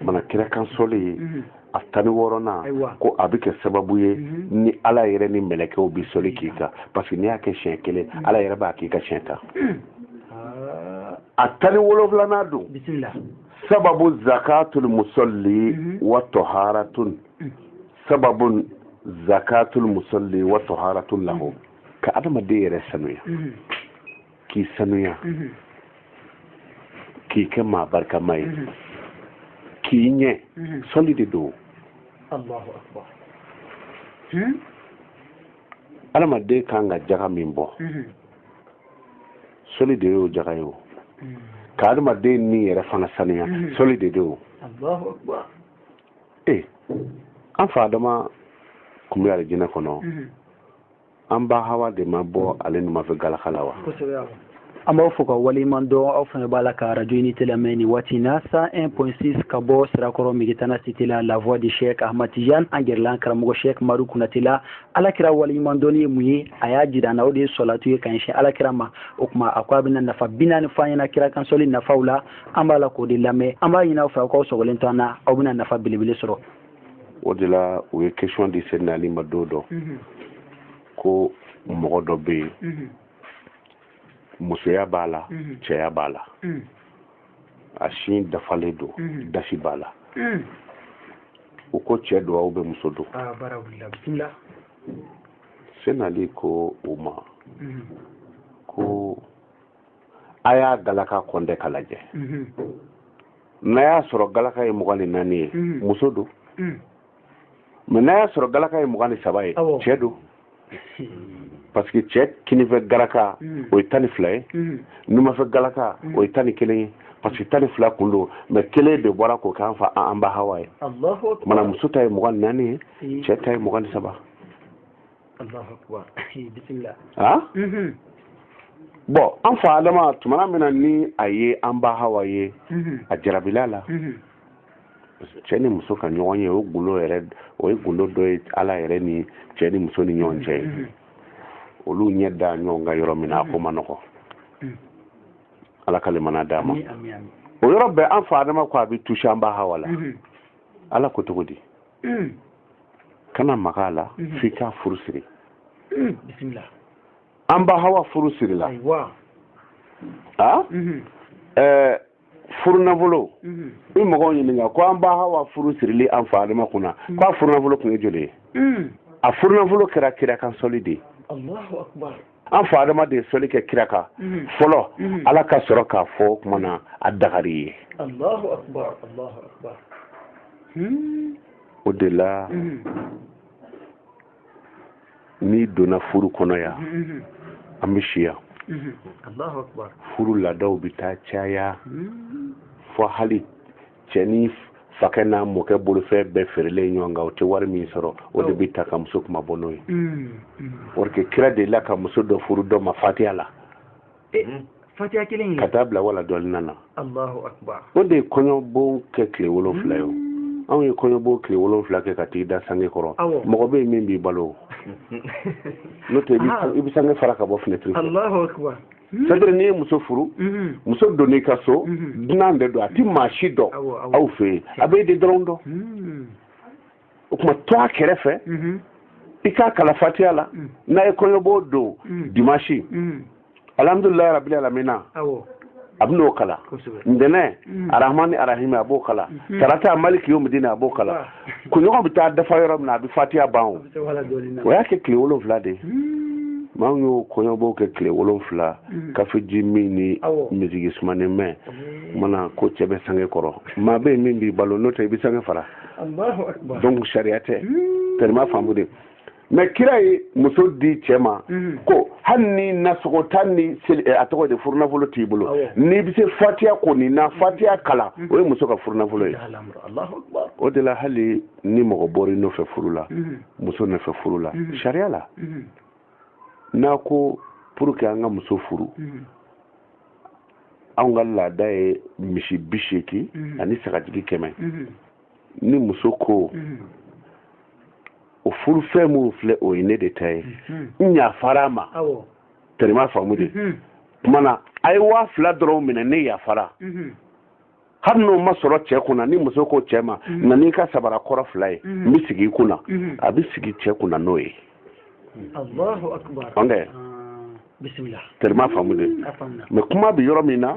mana kira kan sɔli ye a tan ni wɔɔrɔnan ko a bɛ kɛ sababu ye mhm. ni ala yɛrɛ ni mɛlɛkɛw bɛ sɔli k'i kan parce que n'i y'a kɛ siɲɛ kelen mhm. ala yɛrɛ b'a k'i kan siɲɛ tan mhm. ah. a tan ni wolonwulanan don sababu zakatul musalli wa tɔharatun sababu zakatul musalli wa tɔharatun lahu ka adamaden yɛrɛ sanuya k'i sanuya mhm. k'i kɛ maa barikama ye mhm. k'i ɲɛ mhm. sɔli de don adamaden hmm? kan ka jaga min bɔ sɔli de y'o jaga ye o hmm. ka adamaden ni yɛrɛ fana sanuya sɔli de don o ee an fa adama kun bɛ alijinɛ kɔnɔ an ba hawa de ma bɔ ale numan fɛ galaka la wa an b'aw fo ka waleɲuman dɔn aw fana b'a la ka radio unité lamɛn nin waati in na 101.6 ka bɔ sirakɔrɔ megetana cité la la voix de chek ahmad tijan an gɛrɛla an karamɔgɔ chek madu kunate la ala kira waleɲuman dɔnni ye mun ye a y'a jira an na o de ye sɔlatu ye ka ɲɛsin ala kira ma o tuma a ko a bɛna nafa bi naani fɔ an ɲɛna kira kan sɔli nafaw la an b'a la k'o de lamɛn an b'a ɲini aw fɛ aw k'aw sɔgɔlen to an na aw bɛna nafa belebele sɔrɔ o de la u ye question di seydina ali ma don dɔ mhm. ko mɔgɔ dɔ bɛ yen mhm. musoya b'a la mhm. cɛya b'a la a sin dafalen don dasi b'a la u ko cɛ don ou bien muso don ah, seydina ali ko u ma ko a y'a galaka kɔntɛ ka lajɛ mhm. n'a y'a sɔrɔ galaka ye mugan ni naani ye mhm. muso don mhm. mais n'a y'a sɔrɔ galaka ye mugan ni saba ye cɛ don parce que cɛ kinifɛ galaka o ye tan ni fila ye numafɛ galaka o ye tan ni kelen ye parce que tan ni fila kun don mais kelen de bɔra k'o k'an fa an ba hawa ye mana muso ta ye mugan ni naani ye cɛ ta ye mugan ni saba ah? mhm. bon an fa adama tumana min na ni a ye an ba hawa ye mhm. a jarabila la mhm. cɛ ni muso ka ɲɔgɔn ye o gundo yɛrɛ o ye gundo dɔ ye ala yɛrɛ ni cɛ ni muso ni ɲɔgɔn cɛ ye olu ɲɛ da ɲɔgɔn kan yɔrɔ min na a ko man nɔgɔ ala ka lemana d'a ma o yɔrɔ bɛɛ an fa adama ko a bɛ tusi an ba hawa la ala ko cogo di mm. kana maga a la mm-hmm. f'i k'a furu siri mm, an ba hawa furu sirila a mm-hmm. eh, furunafolo mm-hmm. i mɔgɔw ɲininka ko an ba hawa furu sirilen an fa adama kunna mm. k'a furunafolo kun ye joli ye mm. a furunafolo kɛra kira kan sɔli de ye an fa adama de ye sɔli kɛ kira kan mhm. fɔlɔ mhm. ala ka sɔrɔ k'a fɔ o tuma na a dagara i ye hmm. o de la mhm. n'i donna furu kɔnɔ yan an bɛ si yan furu laadaw bɛ taa caya hmm. fo hali cɛnin fakɛ n'a mɔkɛ bolofɛn bɛɛ feerelen ɲɔgɔn kan o tɛ wari min sɔrɔ o de bɛ ta ka muso kunmabɔ n'o ye mm, mm. parce que kira delila ka muso dɔ furu dɔ ma fatiya la eh, mm. fatiya kelen ka taa bila waladɔɔlina o de ye kɔɲɔbon kɛ tile wolonfila ye o anw ye kɔɲɔbon tile wolonfila kɛ ka t'i da sange kɔrɔ mɔgɔ bɛ yen min b'i balo n'o tɛ i bɛ sange fara ka bɔ finɛtiri fɛ c'est-à-dire n'i ye muso furu muso donn'i ka so dunan de don a ti maa si dɔn aw fɛ yen a b'e de dɔrɔn dɔn o tuma to a kɛrɛfɛ i k'a kalan fatiya la n'a ye kɔɲɔbon don dimasi alhamdulilayi rabili alamina a bɛ n'o kalan ntɛnɛn arahmani arahimi a b'o kalan tarata maliki yomidini a b'o kalan kunɲɔgɔn bɛ taa dafa yɔrɔ min na a bɛ fatiya ban o o y'a kɛ tile wolonfila de ye maa min y'o kɔɲɔbon kɛ tile wolonfila hmm. kafeji min ni miziki sumanen mɛn hmm. mana ko cɛ bɛ sange kɔrɔ maa bɛ yen min b'i balo n'o tɛ i bɛ sange fara donc sariya tɛ tan u m'a faamu de mɛ kira ye muso di cɛ ma mhm. ko hali ni nasɔngɔ tan ni eh, a tɔgɔ di furunafolo t'i bolo n'i bɛ se fatiya kɔni na mhm. fatiya kalan mhm. o ye muso ka furunafolo ye o de la hali ni mɔgɔ bɔra i nɔfɛ furu la muso nɔfɛ furu la sariya la n'a ko pour que an ka muso furu anw ka laada ye misi bi seegin ani sagajigi kɛmɛ ni muso ko mm-hmm. o furu fɛn minnu filɛ o ye ne de ta ye mm-hmm. n yafara a ma tɛrɛma faamu dɛ mm-hmm. tuma na a ye waa fila dɔrɔn minɛ ne yafara hali n'o ma sɔrɔ cɛ kunna ni muso ko cɛ ma na n'i ka sabara kɔrɔ fila ye n bɛ sigi i kunna a bɛ sigi cɛ kunna n'o ye ɔn tɛ tɛrɛma faamu dɛ mɛ kuma bɛ yɔrɔ min na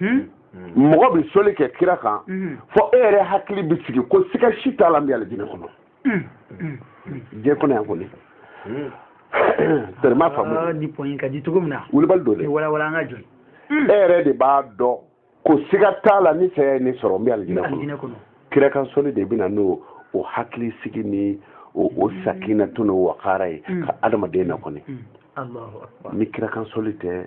hmm? hmm. mɔgɔ bɛ soli kɛ kira kan hmm. fɔ e yɛrɛ hakili bɛ sigi ko siga si t'a la n bɛ alijinɛ kɔnɔ diɲɛ kɔnɔ yan kɔni tɛrɛma faamu ah, ni pɔnyi ka di cogo min na wulibali don dɛ walawala an ka jɔ e yɛrɛ de b'a dɔn ko siga t'a la ni saya ye ne sɔrɔ n bɛ alijinɛ kɔnɔ kira kan soli de bɛ na n'o hakilisigi ni o sakinatu n'o wakara ye ka adamaden na kɔni ni kira kan soli tɛ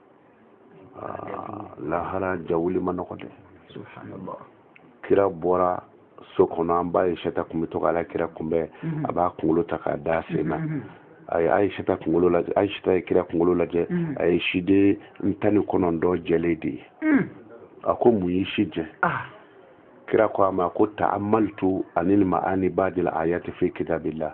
ah, lahara jawuli ma nɔgɔ dɛ kira bɔra so kɔnɔ an ba ayisata kun bɛ to k'ala kira kunbɛn mhm. a b'a kunkolo ta k'a da sen na mhm. a ye ayisata kunkolo lajɛ ayisata ye kira kunkolo lajɛ mhm. a ye siden tan ni kɔnɔntɔn jɛlen de ye a ko mun y'i si jɛ ah. kira ko a ma ko taamaltu ani ma ani baadil ayati fi kitabillah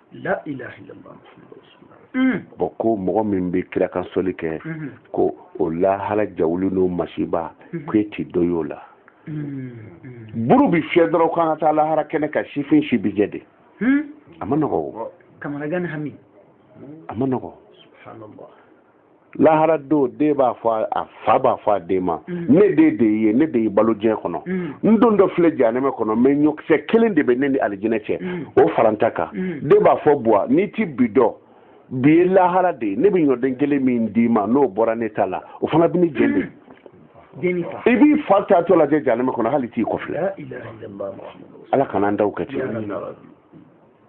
bɔn ko mɔgɔ min bɛ kira kan sɔli kɛ ko o lahara jawuli n'o masiba ko e t'i dɔ y'o la buru bi fiyɛ dɔrɔn k'an ka taa lahara kɛnɛ kan sifin si bi jɛ dɛ a ma nɔgɔ o a ma nɔgɔ lahara don den b'a fɔ a fa b'a fɔ a den ma mm. ne den de ye ne de ye balo diɲɛ kɔnɔ mm. n dontɔ filɛ janɛmɛ kɔnɔ mɛ ɲɔkisɛ kelen de bɛ ne ni alijinɛ cɛ mm. o fara n ta kan den b'a fɔ buwa n'i ti bi dɔn bi ye lahara de ye ne bɛ ɲɔden kelen min d'i ma n'o bɔra ne ta la o fana bɛ ne jeni dɛ i b'i fa taatɔ lajɛ janɛmɛ kɔnɔ hali t'i kɔfilɛ ala kana an taw kɛ ten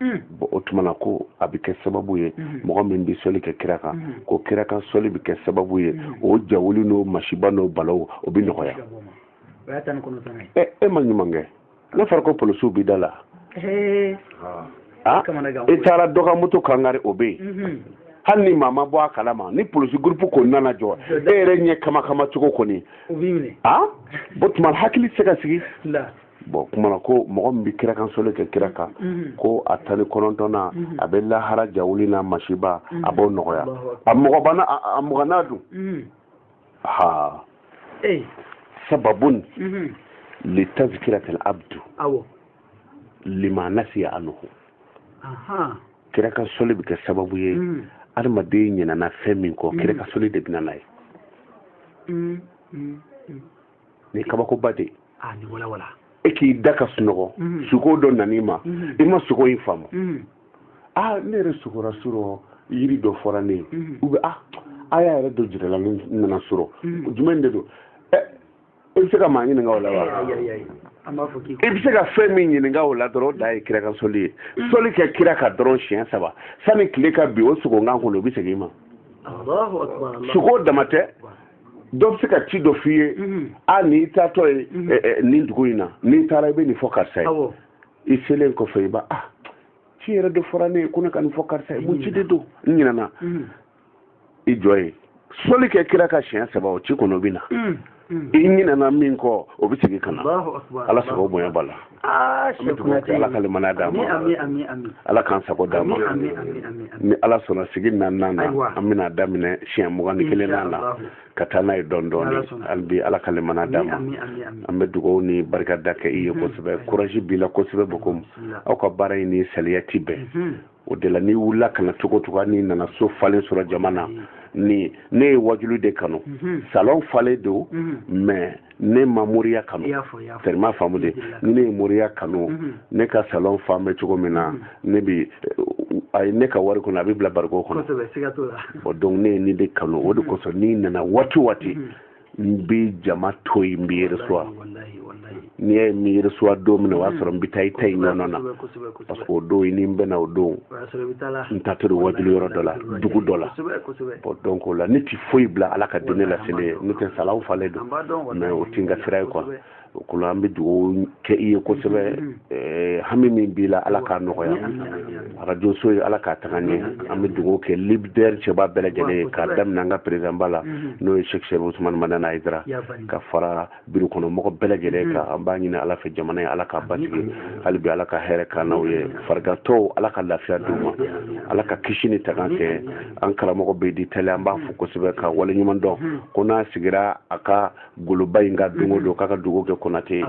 Mm. bon o tuma na ko a bɛ kɛ sababu ye mm-hmm. mɔgɔ min bɛ sɔli kɛ kira kan mm-hmm. ko kira kan sɔli bɛ kɛ sababu ye mm-hmm. o jawuli n'o masiba n'o balaw o bɛ nɔgɔya ɛ e ma ɲuman kɛ n'a fɔra ko polisiw b'i da la e taara dɔ ka moto kan kari o bɛ yen hali ni maa ma bɔ a kalama ni polisi gurupu kɔni nana jɔ e yɛrɛ ɲɛ kama kama cogo kɔni o tuma hakili tɛ se ka sigi bɔn kumana ko mɔgɔ min bɛ kira kan soli kɛ kira kan mhm. ko a tan ni kɔnɔntɔnna mhm. a bɛ lahara jawuli n'a masiba a mhm. b'o nɔgɔya a mɔgɔ ma a muganna dun ha sababun li tazkiratil abdu lima nasiya anhu kira kan soli bɛ kɛ sababu ye adamaden ɲinana fɛn min kɔ kira kan soli de bɛ na n'a ye ni kabakoba de ah, ni wala wala e k'i da ka sunɔgɔ mhm. suko dɔ nan'i ma mhm. i ma suko in faamu mhm. a ah, ne yɛrɛ sukora surɔ yiri dɔ fɔra ne ye u bɛ ah, a a ya yɛrɛ dɔ jirala ne nana surɔ jumɛn de don ɛ eh, i bɛ se ka maa ɲininka o la wa i bɛ se ka fɛn min ɲininka o la dɔrɔn o dan ye kira kan soli ye soli kɛ kira kan dɔrɔn siɲɛ saba sani tile ka bin o suko in kɔnɔ o bɛ segin i ma suko dama tɛ dɔ bɛ se ka ci dɔ f'i ye mhm. a n'i taatɔ ye mhm. eh, eh, nin dugu in na n'i taara i bɛ nin fɔ karisa ye i selen kɔfɛ i b'a ah ci yɛrɛ de fɔra ne ye ko ne ka nin fɔ karisa ye mun ci de don n ɲinɛna mhm. i jɔ ye soli kɛ kira kan siɲɛ saba o ci kɔnɔ bɛ na i ɲinɛna min kɔ o bɛ segin ka na ala sago bonya b'a la Ah, an bɛ dugawu kɛ ala ka limaniya d'an ma ala k'an sago d'an ma ni ala sɔnna sigi naaninan na an bɛna daminɛ siɲɛ mugan ni kelennan na ka taa n'a ye dɔɔni dɔɔni hali bi ala ka limaniya d'an ma an bɛ dugawu ni barika da kɛ i ye kosɛbɛ courage b'i la kosɛbɛ bɔn comme aw ka baara in ni saliya ti bɛn o de la n'i wulila ka na cogo cogo n'i nana so falen sɔrɔ jama na mm. ni ne ye wajulu de kanu mm-hmm. salon falen don mm-hmm. mais ne ma moriya kanu tellement faamu de ni ne ye moriya kanu mm-hmm. ne ka salon fan bɛ cogo min na ne bi a ye ne ka wari kɔnɔ a bɛ bila bariko kɔnɔ donc ne ye nin de kanu o de kosɔn n'i nana waati waati n bɛ jama to yen n b'i recevoir n'i y'a ye n b'i recevoir don min na o y'a sɔrɔ n bɛ taa i ta in ɲɔgɔn na parce que o don i ni n bɛna o don n taatɔ wajuli yɔrɔ dɔ la dugu dɔ la bɔn donc o la ne ti foyi bila ala ka diinɛ laseli ɲɛ n'o tɛ salon falen don mais o ti n ka sira ye quoi o kɔnɔ an bɛ dugawu kɛ i ye kosɛbɛ mm-hmm. eh, hami min b'i la ala k'a nɔgɔya arajo so ye ala k'a taga ɲɛ mm-hmm. an bɛ dugawu kɛ libidɛri cɛba bɛɛ lajɛlen ye k'a daminɛ an ka perezidanba la mm-hmm. n'o ye seki serifu usumani madani ayidara ka fara biro kɔnɔ mɔgɔ bɛɛ lajɛlen kan an b'a ɲini ala fɛ jamana ye ala k'a basigi hali bi ala ka hɛrɛ kɛ an n'aw ye farigantɔw ala ka lafiya d'u ma ala ka kisi ni tanga kɛ an karamɔgɔ bɛ di tali an b'a fo kosɛbɛ ka waleɲuman dɔn ko n'a sigira a ka goloba in ka don o don k'a ka dugu kɛ konate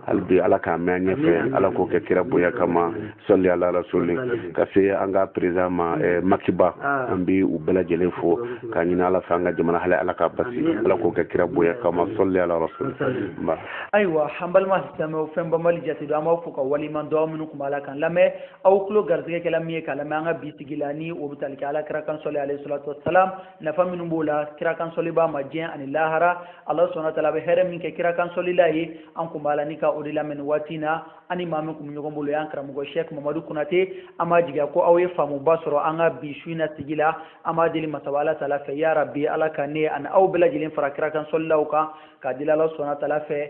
hali bi ala k'a mɛn an ɲɛfɛ ala k'o kɛ kira bonya kama sɔli ala rasuli ka se an ka perezidan ma eh, maki ba ah. an bi u bɛɛ lajɛlen fo k'a ɲini ala fɛ an ka jamana hali ala k'a basigi ala k'o kɛ kira bonya kama sɔli ala rasuli nba ayiwa an balima silamɛw fɛn banbali jate don an b'aw fo ka waleɲuman dɔn minnu kun b'a la kan lamɛn aw tulo garisigɛ kɛla min ye k'a lamɛn an ka bi sigi la ni o bɛ tali kɛ ala kira kan sɔli alayhi salatu wasalam nafa minnu b'o la kira kansɔlibaa ma diɲɛ ani lahara ala subahana tala bɛ hɛrɛ min kɛ kira kansɔlila ye an kun b'a la ni ka o de lamɛn nin waati na an ni maa min kun bɛ ɲɔgɔn bolo y'an karamɔgɔ shɛk mamadu kunate an b'a jigiya ko aw ye faamuba sɔrɔ an ka bi su in na sigi la an b'a deli masaba ala tala fɛ ya rabi ala ka ne ani aw bɛɛ lajɛlen fara kira kansɔlilaw kan k'a deli ala subahana tala fɛ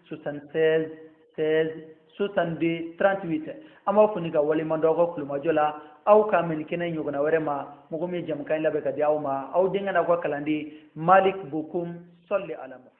76 16 62 38 an b'aw fo ni ka waleɲuman dɔn aw ka tulomajɔ la aw ka mɛn kɛnɛ ɲɔgɔnna wɛrɛ ma mɔgɔ min ye jɛmukan in labɛn ka di aw ma aw denkɛ n'aw ka kalanden malik bokum sɔli ala muhammad